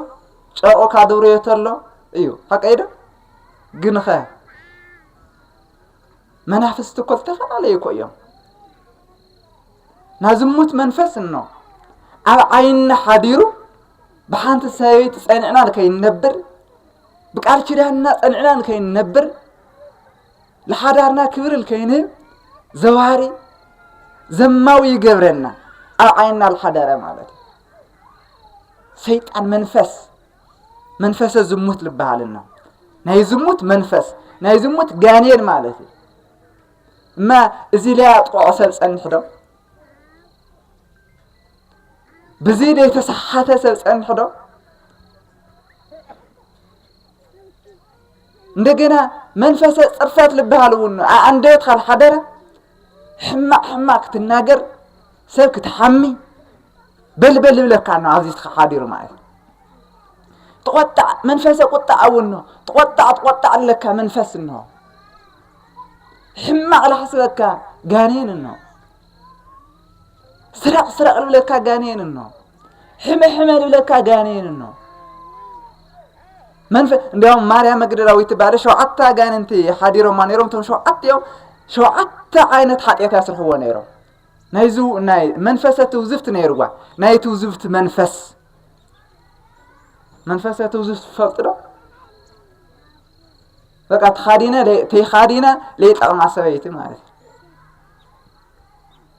ጨርቁ ካድብርዮ ተሎ እዩ ሓቀይ ዶ ግን ኸ መናፍስቲ እኮ ዝተፈላለዩ እኮ እዮም ናዝሙት መንፈስ እኖ ኣብ ዓይኒ ሓዲሩ ብሓንቲ ሰበይቲ ጸኒዕና ንከይንነብር ብቃል ኪዳንና ጸኒዕና ንከይንነብር ንሓዳርና ክብሪ ንከይንህብ ዘዋሪ ዘማዊ ይገብረና ኣብ ዓይንና ዝሓደረ ማለት እዩ ሰይጣን መንፈስ መንፈሰ ዝሙት ዝበሃልና ናይ ዝሙት መንፈስ ናይ ዝሙት ጋኔን ማለት እዩ እማ እዚ ለያ ጥቕዖ ሰብ ጸንሕ ዶ ብዚ ዘይተሰሓተ ሰብ ጸንሑ ዶ እንደገና መንፈሰ ጽርፈት ልበሃል እውን ኣንደበት ካብ ሓደረ ሕማቅ ሕማቅ ክትናገር ሰብ ክትሓሚ በልበል ይብለካ ኖ ኣብዚ ሓዲሩ ማለት እዩ ተቆጣዕ መንፈሰ ቁጣዕ እውን ኖ ተቆጣዕ ተቆጣዕ ኣለካ መንፈስ እንሆ ሕማቅ ላሕስበካ ጋኔን እንሆ ስረቕ ስረቕ ልብለካ ጋኔን እኖ ሕመ ሕመ ልብለካ ጋኔን እኖ መንፈ እንዲያውም ማርያም መግደላዊት ትባለ ሸውዓተ ኣጋንንቲ ሓዲሮማ ነይሮም እቶም ሸውዓተ እዮም ሸውዓተ ዓይነት ሓጢኣት ያስርሕዎ ነይሮም ናይ ዝው ናይ መንፈሰ ትውዝፍት ነይርዋ ናይ ትውዝፍት መንፈስ መንፈሰ ትውዝፍት ትፈልጡ ዶ በቃ ተኻዲነ ተይኻዲነ ለይጠቕማ ሰበይቲ ማለት እዩ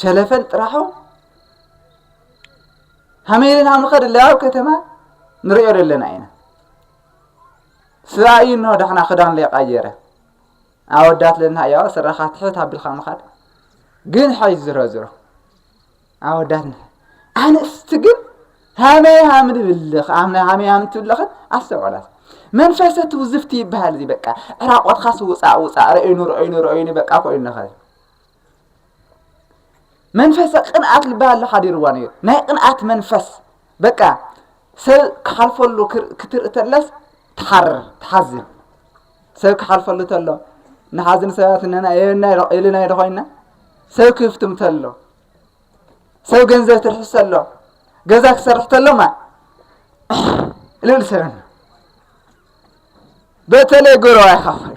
ሸለፈል ጥራሑ ሃመይ ኢልና ንኸድ ኣለያ ኣብ ከተማ ንሪኦ ዘለና ኢና ስብኣ እዩ እንሆ ዳሕና ክዳን ለይቃየረ ኣወዳት ለና እያዋ ስራኻ ትሕት ኣቢልካ ምኻድ ግን ሓይ ዝሮ ዝሮ ኣወዳት ንሕ ኣንስቲ ግን ሃመይ ሃም ንብልኽ ሃመይ ሃም ትብልኽን ኣስተውዕላት መንፈሰ ትውዝፍቲ ይበሃል እዚ በቃ ዕራቆትካስ ውፃእ ውፃእ ረእይኑ ረእይኑ ረእይኑ በቃ ኮይኑ ንኸል መንፈሰ ቅንኣት ልባሃሊ ሓዲርዋ ነይሩ ናይ ቅንኣት መንፈስ በቃ ሰብ ክሓልፈሉ ክትርኢ ተለስ ትሓርር ትሓዝን ሰብ ክሓልፈሉ ተሎ ንሓዝን ሰባት ነና የና ኢልና ኢዶ ኮይና ሰብ ክፍትም ተሎ ሰብ ገንዘብ ትርሕስ ተሎ ገዛ ክሰርሕ ተሎማ ልብል ሰብና በተለይ ጎረባ ይኸፍል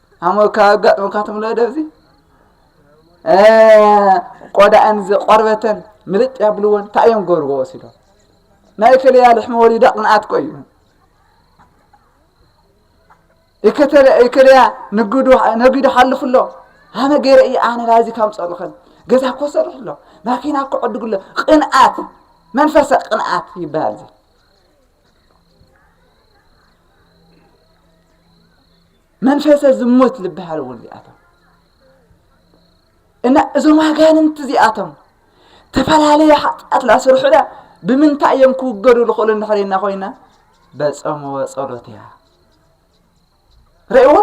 ኣሞካ ኣጋጥሞካ ትብሎ ደዚ ቆዳኣን ቆርበተን ምልጥ ያብልዎን እንታይ እዮም ገብርዎ ወሲዶም ናይ ከለያ ልሕሚ ወሊዳ ቅንኣት ቆዩ ይከለያ ንግዱ ነጊዱ ሓልፉ ኣሎ ኣነ ገይረ እዩ ኣነ ናዚ ካብ ፀርኽን ገዛ እኮ ሰርሕ ኣሎ ማኪና እኮ ዕድጉ ኣሎ ቅንኣት መንፈሰ ቅንኣት ይበሃል እዚ መንፈሰ ዝሙት ዝበሃሉ እውን እዚኣቶም እና እዞም ኣጋንንቲ እዚኣቶም ተፈላለየ ሓጢኣት ላስርሑዳ ብምንታይ እዮም ክውገዱ ዝኽእሉ እንድሕሪና ኮይና በፀሞ ፀሎት እያ ረእይዎ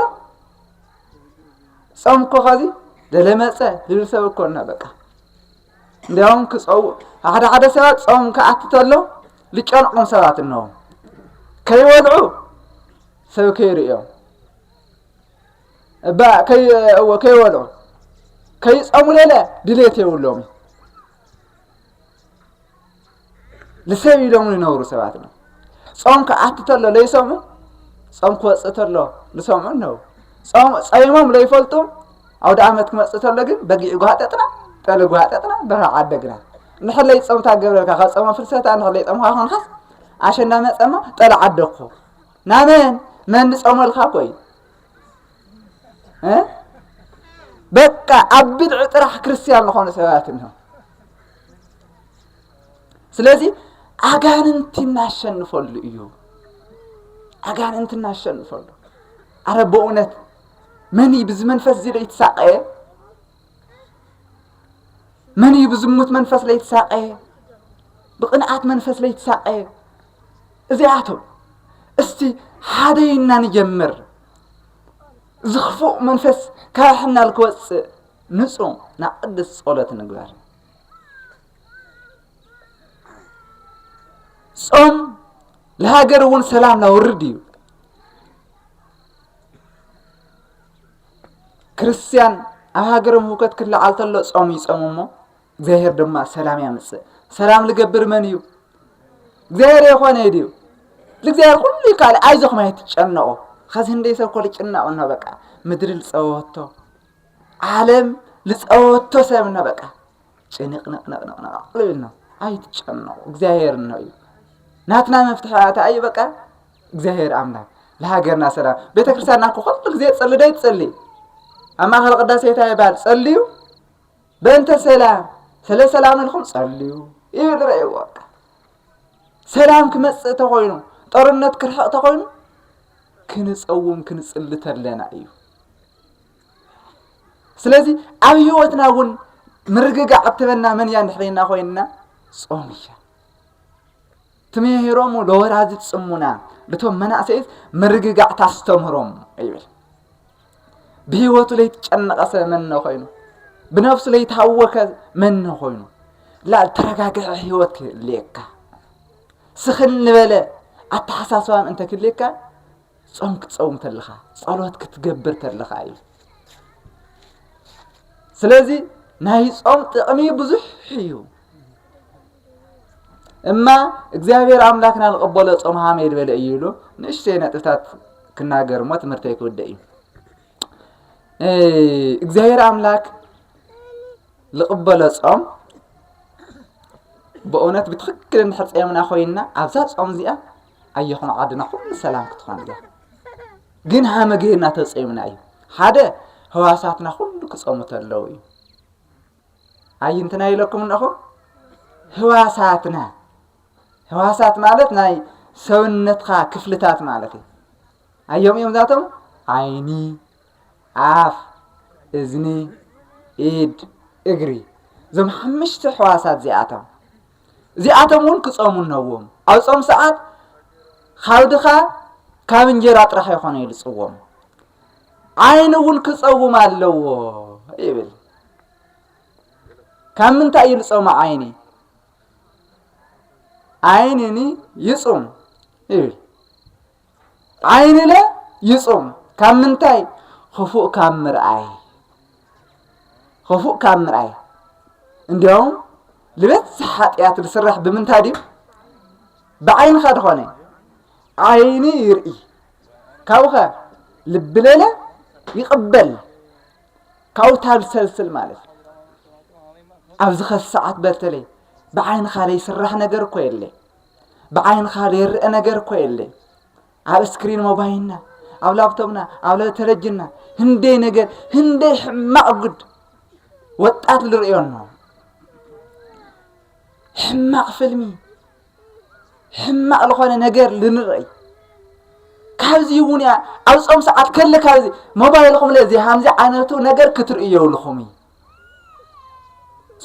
ጾም እኮ ከዚ ደለመፀ ዝብል ሰብ እኮ እና በቃ እንዲያውም ክፀው ሓደ ሓደ ሰባት ጾም ክኣቲ ተሎ ዝጨንቆም ሰባት እነዎም ከይወልዑ ሰብ ከይርእዮ እባ ከይእወ ከይወልዑ ከይጸሙ ለለ ድሌት የብሎም እዩ ንሰብ ኢሎም ይነብሩ ሰባት ነው ጾም ክኣቲ ተሎ ለይሰሙ ጾም ክወፅእ ተሎ ዝሰምዑ ነው ጾም ጸይሞም ለይፈልጡ ኣውደ ዓመት ክመፅእ ተሎ ግን በጊዕ ጓጠጥና ጠሊ ጓጠጥና በረኻ ዓደግና ንሕለይ ጾምታ ገብረልካ ካብ ጾመ ፍልሰታ ንሕለይ ጾምካ ክንሓስ ኣሸንዳ መጸማ ጠሊ ዓደግኩ ናመን መን ንጾመልካ እኮ እዩ በቃ ኣብ ብድዒ ጥራሕ ክርስትያን ዝኾኑ ሰባት እንሆ ስለዚ ኣጋንንቲ እናሸንፈሉ እዩ ኣጋንንቲ እናሸንፈሉ ኣረ በእውነት መን እዩ ብዚ መንፈስ እዚ ዶ ይትሳቀየ መን እዩ ብዝሙት መንፈስ ለይትሳቀ ብቅንኣት መንፈስ ለይትሳቀ እዚኣቶም እስቲ ሓደ ኢና ንጀምር እዚ ክፉእ መንፈስ ካብ ሕናል ክወፅእ ንፁ ናብ ቅድስ ፀሎት ንግበር ጾም ለሃገር እውን ሰላም ላውርድ እዩ ክርስትያን ኣብ ሃገሮም ህውከት ክለዓል ተሎ ጾም ይጾሙ እሞ እግዚኣብሔር ድማ ሰላም ያምጽእ። ሰላም ልገብር መን እዩ? እግዚኣብሔር የኾነ እዩ ድዩ? ልእግዚኣብሔር ኩሉ ይከኣል ኣይዞኹም ኣይትጨነቑ። ኸዚ ህንደይ ሰብ እኮ ልጭነቕ እኖ በቃ ምድሪ ልጸወቶ ዓለም ልጸወቶ ሰብ እኖ በቃ ጭንቕንቕንቕንቕንቕ ልብል ነው። ኣይትጨነቑ እግዚኣብሔር እኖ እዩ። ናትና መፍትሒ ኣታ እዩ በቃ እግዚኣብሔር ኣምላክ ለሃገርና ሰላም ቤተ ክርስቲያንና እኮ ኩሉ ጊዜ ጸልደ ይትጸልይ ኣብ ማእኸል ቅዳሴ እንታይ ይበሃል ጸልዩ በእንተ ሰላም ስለ ሰላም ኢልኩም ጸልዩ እዩ ንርእይዎ በቃ ሰላም ክመጽእ ተኾይኑ ጦርነት ክርሕቕ ተኾይኑ ክንጸውም ክንጽሊ ተለና እዩ ስለዚ ኣብ ህይወትና እውን ምርግጋዕ እትበና መን እያ ንሕሬና ኮይንና ጾም እያ ትምህሮሙ ለወላዲት ጽሙና ልቶም መናእሰይት ምርግጋዕ ታስተምህሮም ይብል ብህይወቱ ለይትጨነቐሰ መነ ኮይኑ ብነፍሱ ለይታወከ መነ ኮይኑ ላ ተረጋግዐ ህይወት ክህልየካ ስኽን ንበለ ኣተሓሳስባን እንተ ክልየካ ጾም ክትጸውም ተለኻ ጸሎት ክትገብር ተለኻ እዩ ስለዚ ናይ ጾም ጥቕሚ ብዙሕ እዩ እማ እግዚኣብሔር ኣምላክና ንቐበሎ ጾም ሃመ ይድበለ እዩ ኢሉ ንእሽተይ ነጥብታት ክናገር እሞ ትምህርተይ ክውደእ እዩ እግዚኣብሔር ኣምላክ ዝቕበሎ ጾም ብእውነት ብትክክል እንድሕር ጸምና ኮይንና ኣብዛ ጾም እዚኣ ኣየኹም ዓድና ኩሉ ሰላም ክትኾን እያ ግን ሃመ ገይርና ተጸምና እዩ ሓደ ህዋሳትና ኩሉ ክጸሙ ተለዉ እዩ ኣይንትና ኢለኩም እነኹ ህዋሳትና ህዋሳት ማለት ናይ ሰውነትካ ክፍልታት ማለት እዩ ኣዮም እዮም ዛቶም ዓይኒ ኣፍ እዝኒ ኢድ እግሪ እዞም ሓምሽተ ሕዋሳት እዚኣቶም እዚኣቶም እውን ክፀሙ ነዎም ኣብ ፆም ሰዓት ካብ ድኻ ካብ እንጀራ ጥራሕ ይኾነ ይልፅዎም ዓይኒ እውን ክፀውም ኣለዎ ይብል ካብ ምንታይ እዩ ልጾመ ዓይኒ ዓይንኒ ይጹም ይብል ዓይንለ ይጹም ካብ ምንታይ ክፉእ ካብ ምርኣይ ክፉእ ካብ ምርኣይ እንዲያውም ልበዝሕ ሓጢኣት ዝስራሕ ብምንታይ ድዩ ብዓይንኻ ዝኾነ ዓይኒ ይርኢ ካብኸ ልብለለ ይቕበል ካውታብ ሰልስል ማለት ኣብዚ ኸዚ ሰዓት በተለይ ብዓይንኻ ዘይስራሕ ነገር እኮ የለይ ብዓይንኻ ዘይርአ ነገር እኮ የለይ ኣብ እስክሪን ሞባይልና ኣብ ላፕቶፕና ኣብ ተለጅና ህንደይ ነገር ህንደይ ሕማቕ ጉድ ወጣት ዝርእዮ ኣሎ ሕማቕ ፍልሚ ሕማቅ ዝኾነ ነገር ልንርእይ ካብዚ እውን እያ ኣብ ጾም ሰዓት ከለ ካብዚ ሞባይልኹም ለዚ ሃምዚ ዓይነቱ ነገር ክትርኢ የብልኹም እዩ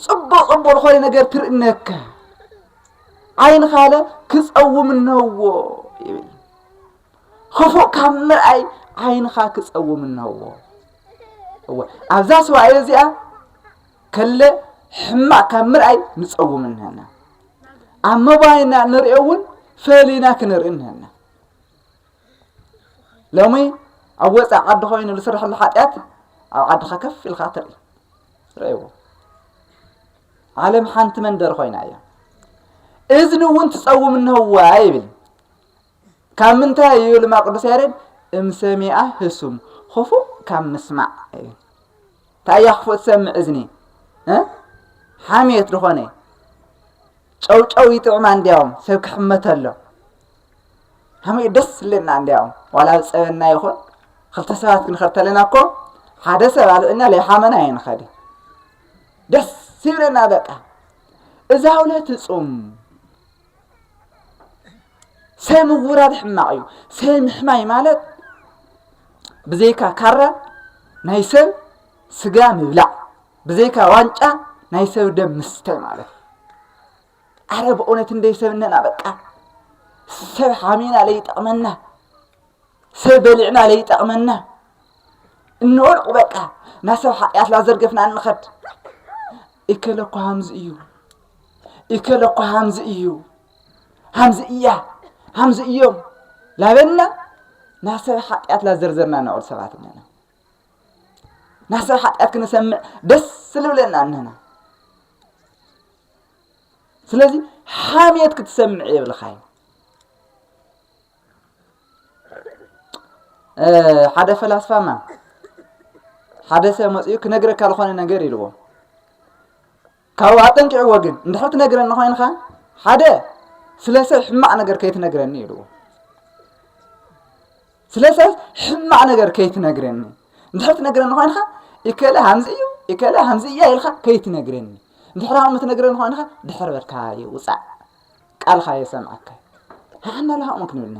ጽቡቅ ጽቡቅ ዝኾነ ነገር ትርእነካ ዓይን ካለ ክጸውም እነዎ ይብል ክፉእ ካብ ምርኣይ ዓይንኻ ክጸውም እነዎ እወ ኣብዛ ስዋኤ እዚኣ ከለ ሕማቅ ካብ ምርኣይ ንጸውም እነና ኣብ ሞባይልና እንሪኦ እውን ፈሊና ክንርኢ እኒሀና ሎሚ ኣብ ወፃእ ዓዲ ኮይኑ ዝስርሐሉ ሓጢኣት ኣብ ዓድኻ ከፍ ኢልካ ትርኢ ርእይዎ ዓለም ሓንቲ መንደር ኮይና እያ እዝኒ እውን ትፀውም እንህዋ ይብል ካብ ምንታይ እዩ ድማ ቅዱስ ያሬድ እምሰሚኣ ህሱም ክፉእ ካብ ምስማዕ እዩ እንታይ እያ ክፉእ ትሰምዕ እዝኒ ሓሜት ዝኾነ ጨውጨው ይጥዕማ እንዲያውም ሰብ ክሕመተ ኣሎ ሃመ ደስ ዝለና እንዲያውም ዋላ ዝፀበና ይኹን ክልተ ሰባት ክንኸድ ተለና እኮ ሓደ ሰብ ኣልዕና ለይሓመና ይንኸድ ደስ ይብለና በቃ እዛ ውለት እፁም ሰይ ምውራድ ሕማቕ እዩ ሰይ ምሕማይ ማለት ብዘይካ ካራ ናይ ሰብ ስጋ ምብላዕ ብዘይካ ዋንጫ ናይ ሰብ ደም ምስታይ ማለት ኣረ ብእውነት እንደይ ሰብ እነና በቃ ሰብ ሓሚና ለይጠቕመና ሰብ በሊዕና ለይጠቕመና እንወልቁ በቃ ናብ ሰብ ሓጢኣት ላዘርገፍና እንኸድ ይከለኳ ሃምዚ እዩ እከለ እኮ ሃምዚ እዩ ሃምዚ እያ ሃምዚ እዮም ላበልና ናብ ሰብ ሓጢኣት ላዘርዘርና ንዕል ሰባት እነና ናብ ሰብ ሓጢኣት ክንሰምዕ ደስ ልብለና እነና ስለዚ ሓሜት ክትሰምዕ የብልኻዩ ሓደ ፈላስፋማ ሓደ ሰብ መፅኡ ክነግረካ ዝኾነ ነገር ኢልዎ ካብኡ ኣጠንቂዕዎ ግን እንድሕር ትነግረኒ ኮይንካ ሓደ ስለ ሰብ ሕማቕ ነገር ከይትነግረኒ ይብልዎ ስለ ሰብ ሕማቕ ነገር ከይትነግረኒ እንድሕር ትነግረኒ ኮይንካ እከለ ሃምዚ እዩ እከለ ሃምዚ እያ ኢልካ ከይትነግረኒ እንድሕር ሃም ትነግረኒ ኮይንካ ድሕር በልካ ይውፃእ ቃልካ የሰምዐካ ንሓና ለሃኦም ክንብልና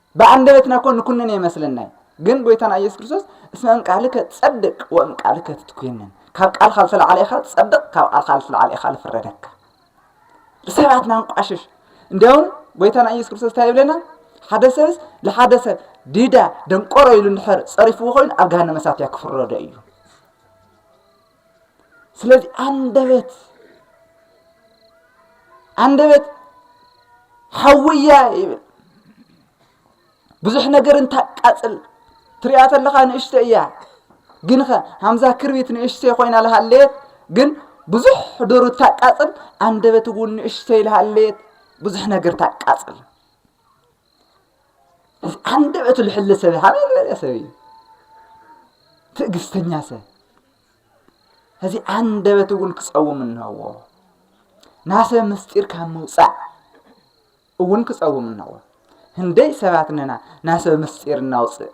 ብኣንደበትና እኮ ንኩንን እየ መስለናይ ግን ጎይታና ኢየሱስ ክርስቶስ እስመ እም ቃልከ ትጸድቅ ወእም ቃልከ ትትኮንን ካብ ቃልካ ዝተላዕለ ኢኻ ትጸድቕ ካብ ቃልካ ዝተላዕለ ኢኻ ዝፍረደካ ብሰባት ናንቋሽሽ እንዲያውም ጎይታና ኢየሱስ ክርስቶስ እንታይ ይብለና ሓደ ሰብስ ንሓደ ሰብ ዲዳ ደንቆሮ ኢሉ እንድሕር ጸሪፍዎ ኮይኑ ኣብ ገሃነመ እሳት እያ ክፍረዶ እዩ ስለዚ ኣንደበት ኣንደበት ሓውያ ይብል ብዙሕ ነገር እንታቃፅል ትሪኣ ተለኻ ንእሽተ እያ ግን ኸ ሃምዛ ክርቢት ንእሽተ ኮይና ልሃለየት ግን ብዙሕ ዶሩ ታቃፅል ኣንደበት እውን ንእሽተ ይልሃለየት ብዙሕ ነገር ታቃፅል እዚ ኣንደበቱ ልሕሊ ሰብ ሃበ ዝበለ ሰብ እዩ ትዕግስተኛ ሰብ እዚ ኣንደበት እውን ክፀውም እነዎ ናሰብ ምስጢር ካብ ምውፃእ እውን ክፀውም እነዎ ህንደይ ሰባት ነና ናሰብ ምስጢር እናውፅእ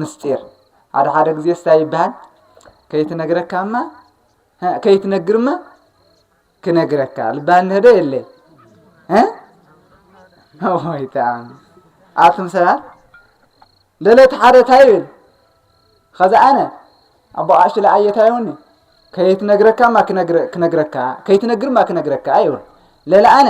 ምስጢር ሓደ ሓደ ግዜ ስታ ይበሃል ከይትነግረካማ ከይትነግርማ ክነግረካ ልባን ንህዶ የለ ወይ ተኣም ኣቱም ሰባት ደለት ሓደ ታይ ይብል ኸዚ ኣነ ኣቦ ኣሽ ለኣየታይ ይውኒ ከይትነግረካ ማ ክነግረካ ከይትነግር ማ ክነግረካ ይብል ለለ ኣነ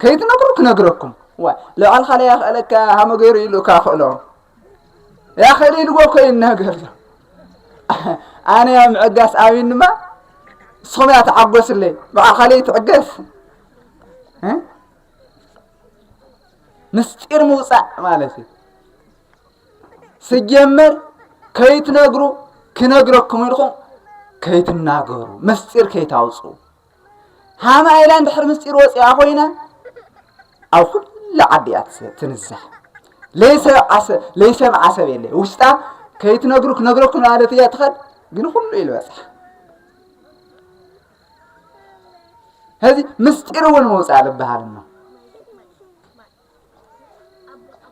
ከይትነግሩ ክነግረኩም ዋይ ልባዕልካ ለይ ኣኽእለካ ሃመ ገይሩ ኢሉ እካ ክእሎ ያኸሊ ኢልዎ እኮ ይናገር ዘሎ ኣነ ያ ምዕጋስ ኣሚን ድማ ንስኹም እያ ተዓጎስለይ ባዕልካ ለይ ትዕገስ ምስጢር ምውፃእ ማለት እዩ ስጀመር ከይትነግሩ ክነግረኩም ኢልኩም ከይትናገሩ ምስጢር ከይታውፁ ሃም ኣይላ እንድሕር ምስጢር ወፂኣ ኮይና ኣብ ኩሉ ዓዲ እያ ትንዛሕ ለይሰምዓ ሰብ የለ ውሽጣ ከይትነግሩ ክነግረኩም ማለት እያ ትኸድ ግን ኩሉ እዩ ዝበፅሓ ሕዚ ምስጢር እውን መውፃእ ዝበሃል እሞ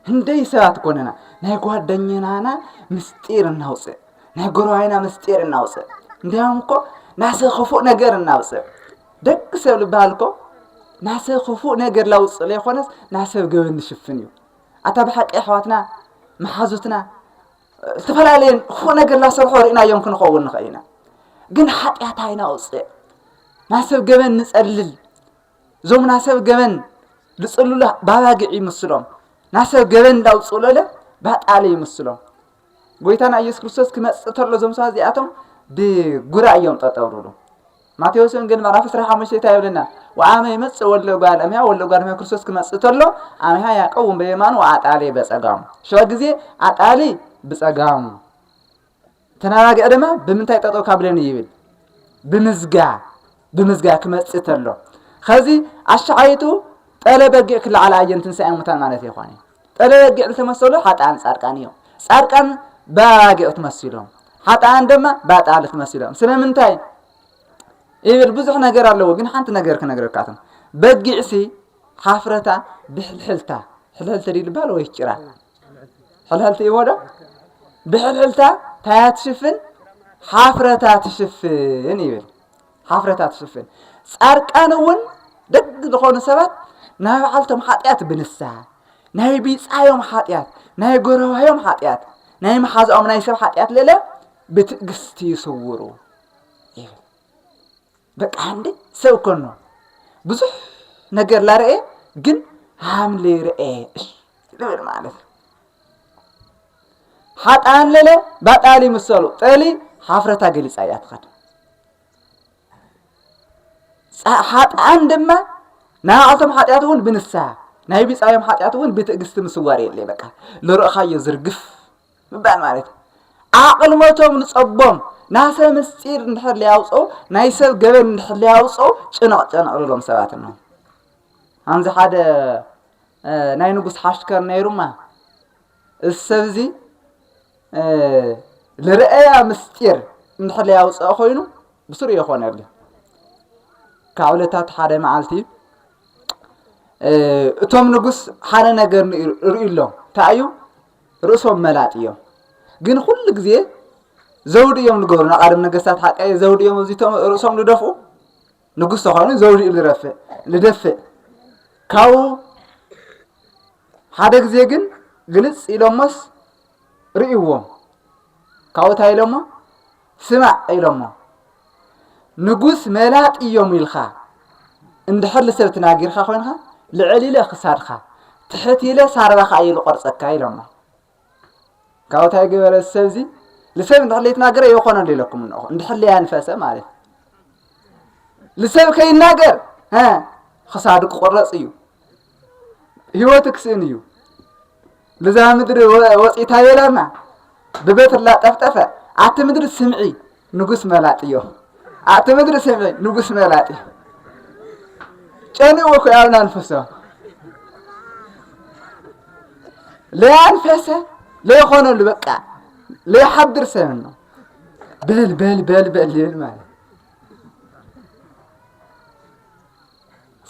ህንደይ ሰባት ኮነና ናይ ጓደኛና ምስጢር እናውፅእ ናይ ጎረባይና ምስጢር እናውፅእ እንዲያውም እኮ ናሰ ክፉእ ነገር እናውፅእ ደቂ ሰብ ልበሃል እኮ ናሰ ክፉእ ነገር ላውፅእ ለይኮነስ ናሰብ ገበን ንሽፍን እዩ ኣታ ብሓቂ ኣሕዋትና መሓዙትና ዝተፈላለየ ክፉእ ነገር ላሰርሖ ርኢናዮም ክንኸውን ንኽእል ኢና ግን ሓጢኣት ኣይናውፅእ ናሰብ ገበን ንፀልል እዞም ናሰብ ገበን ዝጽሉለ ባባግዕ ይምስሎም ናሰብ ገበን እንዳውጽኡለለ ባጣለ ይምስሎም ጎይታና ኢየሱስ ክርስቶስ ክመጽእ ተሎ እዞም ሰባት እዚኣቶም ብጉራ እዮም ጠጠው ዝብሉ ማቴዎስ ወንጌል ምዕራፍ 15 እንታይ ይብለና ወአመ ይመጽእ ወልደ እጓለ እመሕያው ወልደ እጓለ እመሕያው ክርስቶስ ክመጽእ ተሎ አምያ ያዕቆብን በየማኑ ወአጣሌ በጸጋሙ ሸዋ ጊዜ አጣሊ ብጸጋሙ ተናጋግዒ ድማ ብምንታይ ጠጠው ካብለኒ ይብል ብምዝጋ ብምዝጋ ክመጽእ ተሎ ከዚ ኣሻዓይቱ ጠለ በጊዕ ክለዓል ኣየን ትንሳኤ ሙታን ማለት ይኾነ ጠለ በጊዕ ዝተመሰሉ ሓጣን ጻድቃን እዮም ጻድቃን በባጊዕ ትመሲሎም ሓጣን ድማ ባጣል ትመሲሎም ስለምንታይ ይብል ብዙሕ ነገር ኣለዎ ግን ሓንቲ ነገር ክነግረካትም በጊዕሲ ሓፍረታ ብሕልሕልታ ሕልሕልቲ ድልባል ወይ ጭራ ሕልሕልቲ እዩዎ ዶ ብሕልሕልታ ታያ ትሽፍን ሓፍረታ ትሽፍን ይብል ሓፍረታ ትሽፍን ጻርቃን እውን ደግ ዝኾኑ ሰባት ናይ በዓልቶም ሓጢኣት ብንስሓ ናይ ቢጻዮም ሓጢኣት ናይ ጎረባዮም ሓጢኣት ናይ መሓዛኦም ናይ ሰብ ሓጢኣት ልለ ብትእግስቲ ይስውሩ ይብል በቃ ሃምሌ ሰብ ኮኖ ብዙሕ ነገር ላረኤ ግን ሃምሌ ረኤ ልብል ማለት ሓጣን ለለ ባጣሊ ምሰሉ ጠሊ ሓፍረታ ገሊፃ እያ ትኸድ ሓጣን ድማ ንዓቶም ሓጢኣት እውን ብንስሃ ናይ ቢፃዮም ሓጢኣት እውን ብትእግስቲ ምስዋር የለ በቃ ልርእኻዮ ዝርግፍ ምባል ማለት እዩ። ኣቕልሞቶም ንጸቦም ናሰ ምስጢር እንድሕር ለያውፀው ናይ ሰብ ገበን እንድሕር ለያውፀው ጭነቕ ጨነቕ ልሎም ሰባት ነው ኣንዚ ሓደ ናይ ንጉስ ሓሽከር ነይሩማ እዚ ሰብ እዚ ልርአያ ምስጢር እንድሕር ያውፅኦ ኮይኑ ብስሩ የኾነሉ ካብ ዕለታት ሓደ መዓልቲ እቶም ንጉስ ሓደ ነገር ርእዩ ኣሎ እንታይ እዩ ርእሶም መላጥ እዮም ግን ኩሉ ግዜ ዘውዲ እዮም ዝገብሩ ናቃደም ነገስታት ሓቀየ ዘውዲ እዮም ኣብዚቶም ርእሶም ዝደፍኡ ንጉስ ተኾይኑ ዘውዲ እዩ ዝረፍእ ዝደፍእ ካብኡ ሓደ ግዜ ግን ግልፅ ኢሎሞስ ርእይዎም ካብኡ እንታይ ኢሎሞ ስማዕ ኢሎሞ ንጉስ መላጥ ኢዮም ኢልካ እንድሕር ልሰብ ትናጊርካ ኮይንካ ልዕል ኢለ ክሳድካ ትሕት ኢለ ሳርባካ ኢየ ልቆርጸካ ኢሎሞ ካብኡ ታይ ገበረ ሰብዚ ልሰብ እንድሕር ለይትናገረ የኾነሉ ኢለኩም እንኹ እንድሕር ለያንፈሰ ማለት ልሰብ ከይናገር ክሳዱ ክቁረጽ እዩ ህይወቱ ክስእን እዩ ልዛ ምድሪ ወፂእታ የላና ብበትር ላጠፍጠፈ ኣቲ ምድሪ ስምዒ ንጉስ መላጥ እዮ ኣቲ ምድሪ ስምዒ ንጉስ መላጥ እዩ ጨኒኡ ኮይ ኣብና ንፍሶ ለያንፈሰ ለይኾነሉ በቃ ለይሓድር ሰብ ነው በል በል በል በል ይብል ማለት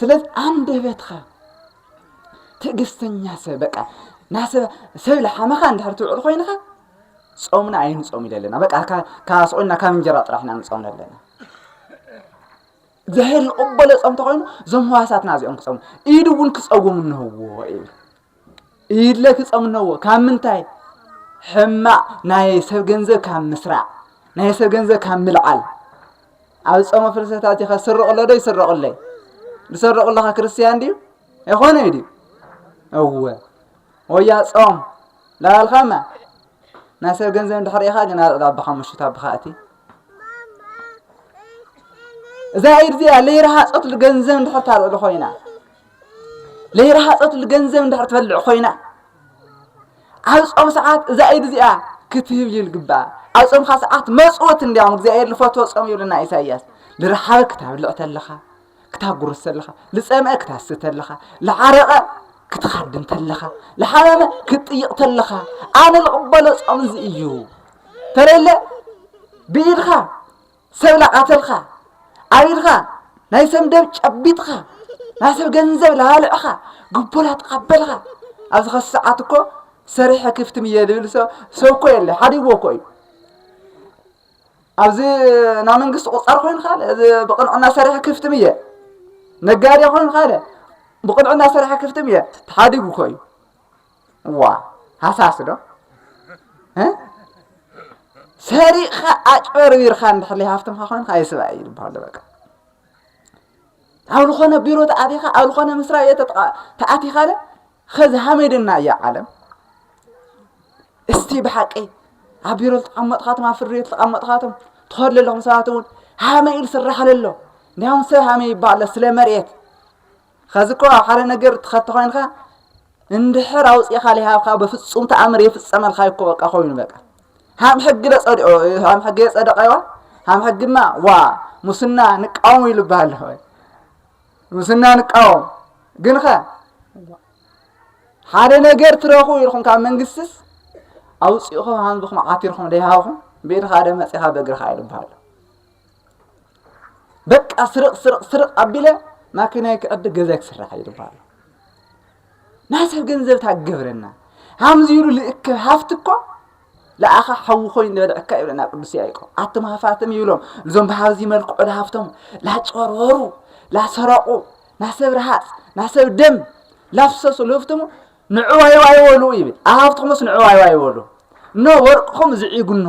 ስለዚ ኣንደበትካ ትዕግስተኛ ሰብ በቃ ናሰብ ሰብ ልሓመኻ እንድሕር ትውዕል ኮይንኻ ጾምና ኣይንጾም ኢለ ኣለና በቃ ካስቆና ካብ እንጀራ ጥራሕ ኢና ንጾም ኣለና እግዚኣብሔር ዝቕበሎ ጾም ተኮይኑ እዞም ህዋሳትና እዚኦም ክጸሙ ኢድ እውን ክጸውም እንህዎ እዩ ኢለ ትጸምነዎ ካብ ምንታይ ሕማቕ ናይ ሰብ ገንዘብ ካብ ምስራዕ ናይ ሰብ ገንዘብ ካብ ምልዓል ኣብ ጾመ ፍልሰታ እዚኸ ስርቕሎ ዶ ይስረቕለይ ዝሰርቕለኻ ክርስትያን ድዩ ኣይኮነ ድዩ እወ ወያ ጾም ላበልካማ ናይ ሰብ ገንዘብ እንድሕር ኢኻ ግን ኣልዕል ኣባኻ ምሽት ኣባኻ እቲ እዛ ኢድ እዚኣ ለይረሃፀት ገንዘብ እንድሕር ታልዕሉ ኮይና ለይረሃፀትሉ ገንዘብ እንድሕር ትበልዕ ኮይና ኣብ ጾም ሰዓት እዛ ኢድ እዚኣ ክትህብ እዩ ልግባእ ኣብ ጾምካ ሰዓት መፅወት እንዲያውም እግዚኣብሔር ልፈትዎ ጾም ይብልና ኢሳይያስ ልረሓበ ክታብልዕ ተለኻ ክታጉርስ ተለኻ ልፀምአ ክታስ ተለኻ ልዓረቐ ክትኻድም ተለኻ ልሓመመ ክትጥይቕ ተለኻ ኣነ ልቕበሎ ጾም እዚ እዩ ተለለ ብኢድካ ሰብ ላቃተልካ ኣቢልካ ናይ ሰብ ደብ ጨቢጥካ ናይ ሰብ ገንዘብ ላባልዕካ ጉቦ ላተቀበልካ ኣብዚ ከዚ ሰዓት እኮ ሰሪሐ ክፍትም እየ ዝብል ሰብ እኮ የለ ሓዲግዎ እኮ እዩ ኣብዚ ናይ መንግስቲ ቁፃር ኮይኑ ካለ እዚ ብቅንዕና ሰሪሐ ክፍትም እየ ነጋዴ ኮይኑ ካለ ብቅንዕና ሰሪሐ ክፍትም እየ ተሓዲጉ እኮ እዩ እዋ ሃሳስ ዶ እ ሰሪቕኻ ኣጭበርቢርኻ እንድሕር ዘይሃፍትምካ ኮይንካ ኣይስባ እዩ ዝበሃሎ በቃ ኣብ ዝኾነ ቢሮ ተኣቲኻ ኣብ ዝኾነ መስሪያ ቤት ተኣቲኻለ ኸዚ ሃመድና እያ ዓለም እስቲ ብሓቂ ኣብ ቢሮ ዝተቐመጥኻቶም ኣብ ፍርድ ቤት ዝተቐመጥኻቶም ትኸዱ ዘለኹም ሰባት እውን ሃመ ኢሉ ስራሕ ኣለሎ እንዲያውም ሰብ ሃመ ይበሃሎ ስለ መሬት ኸዚ እኮ ኣብ ሓደ ነገር ትኸቲ ኮይንካ እንድሕር ኣውፂእኻ ሊሃብካ በፍፁም ተኣምር የፍፀመልካ እኮ በቃ ኮይኑ በቃ ሃም ሕጊ ለፀድኦ ሃም ሕጊ የፀደቀዋ ሃም ሕግማ ዋ ሙስና ንቃወሙ ኢሉ ይበሃል ኣለኹ ሙስና ንቃወም ግን ኸ ሓደ ነገር ትረኽቡ ኢልኩም ካብ መንግስትስ ኣውፂእኹም ሃምዝኹም ዓቲርኩም ደይሃብኹም ብኢድኻ ደ መፂኻ በእግርኻ ኢሉ ይበሃል በቃ ስርቕ ስርቕ ስርቕ ኣቢለ ማኪናይ ክዕድግ ገዛይ ክስራሕ እዩ ድበሃሉ ናይ ሰብ ገንዘብ ታገብረና ሃምዚ ኢሉ ልእክብ ሃፍቲ እኮ ለኣኻ ሓዊ ኮይኑ ዝበልዐካ ይብለና ቅዱስ ያዕቆብ ኣቶም ሃፋትም ይብሎም እዞም ብሃብዚ መልክዑ ለሃፍቶም ላጨርወሩ ላሰረቑ ናሰብ ረሃፅ ናሰብ ደም ላፍሰሱ ልህፍትሙ ንዕዋይዋይ ወሉ ይብል ኣሃብትኹምስ ንዕዋይዋይ ወሉ እኖ ወርቅኹም ዝዒጉ እኖ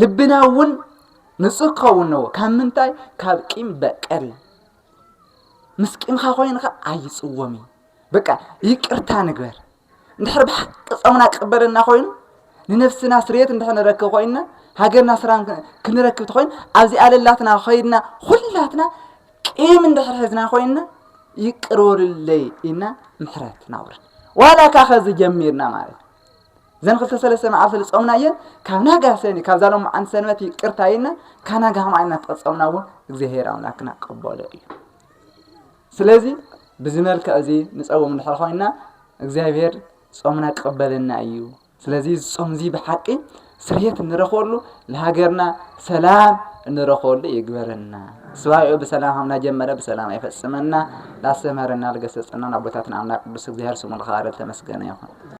ልብና እውን ንጹህ ክኸውን ነዎ ካብ ምንታይ ካብ ቂም በቀል ምስ ቂምካ ኮይንካ ኣይጽወም እዩ በቃ ይቅርታ ንግበር እንድሕር ብሓቂ ጾምና ክቕበለና ኮይኑ ንነፍስና ስርየት እንድሕር ንረክብ ኮይንና ሃገርና ስራን ክንረክብ ትኮይን ኣብዚ ኣለላትና ኮይንና ኩላትና ቂም እንድሕር ሕዝና ኮይንና ይቅር በሉለይ ኢና ምሕረት ናውርድ ዋላ ካኸዚ ጀሚርና ማለት ዘን ክልተ ሰለስተ መዓልቲ ዝጾምናየን ካብ ናጋ ሰኒ ካብዛ ሎማዓንቲ ሰንበት ይቅርታ ኢልና ካብ ናጋ ከማይ እናተቐጸምና እውን እግዚኣብሔር ኣምላክና ቀበሎ እዩ ስለዚ ብዚ መልክዕ እዚ ንጸውም እንድሕር ኮይና እግዚኣብሔር ጾምና ክቕበለና እዩ ስለዚ ዝጾም እዚ ብሓቂ ስርየት እንረኽበሉ ንሃገርና ሰላም እንረኽበሉ ይግበረና ስባኤኡ ብሰላም ሃምና ጀመረ ብሰላም ኣይፈጽመና ላስተምህረና ልገሰጸናን ኣቦታትና ኣምላክ ቅዱስ እግዚኣብሔር ስሙ ልኸባረ ተመስገነ ይኹን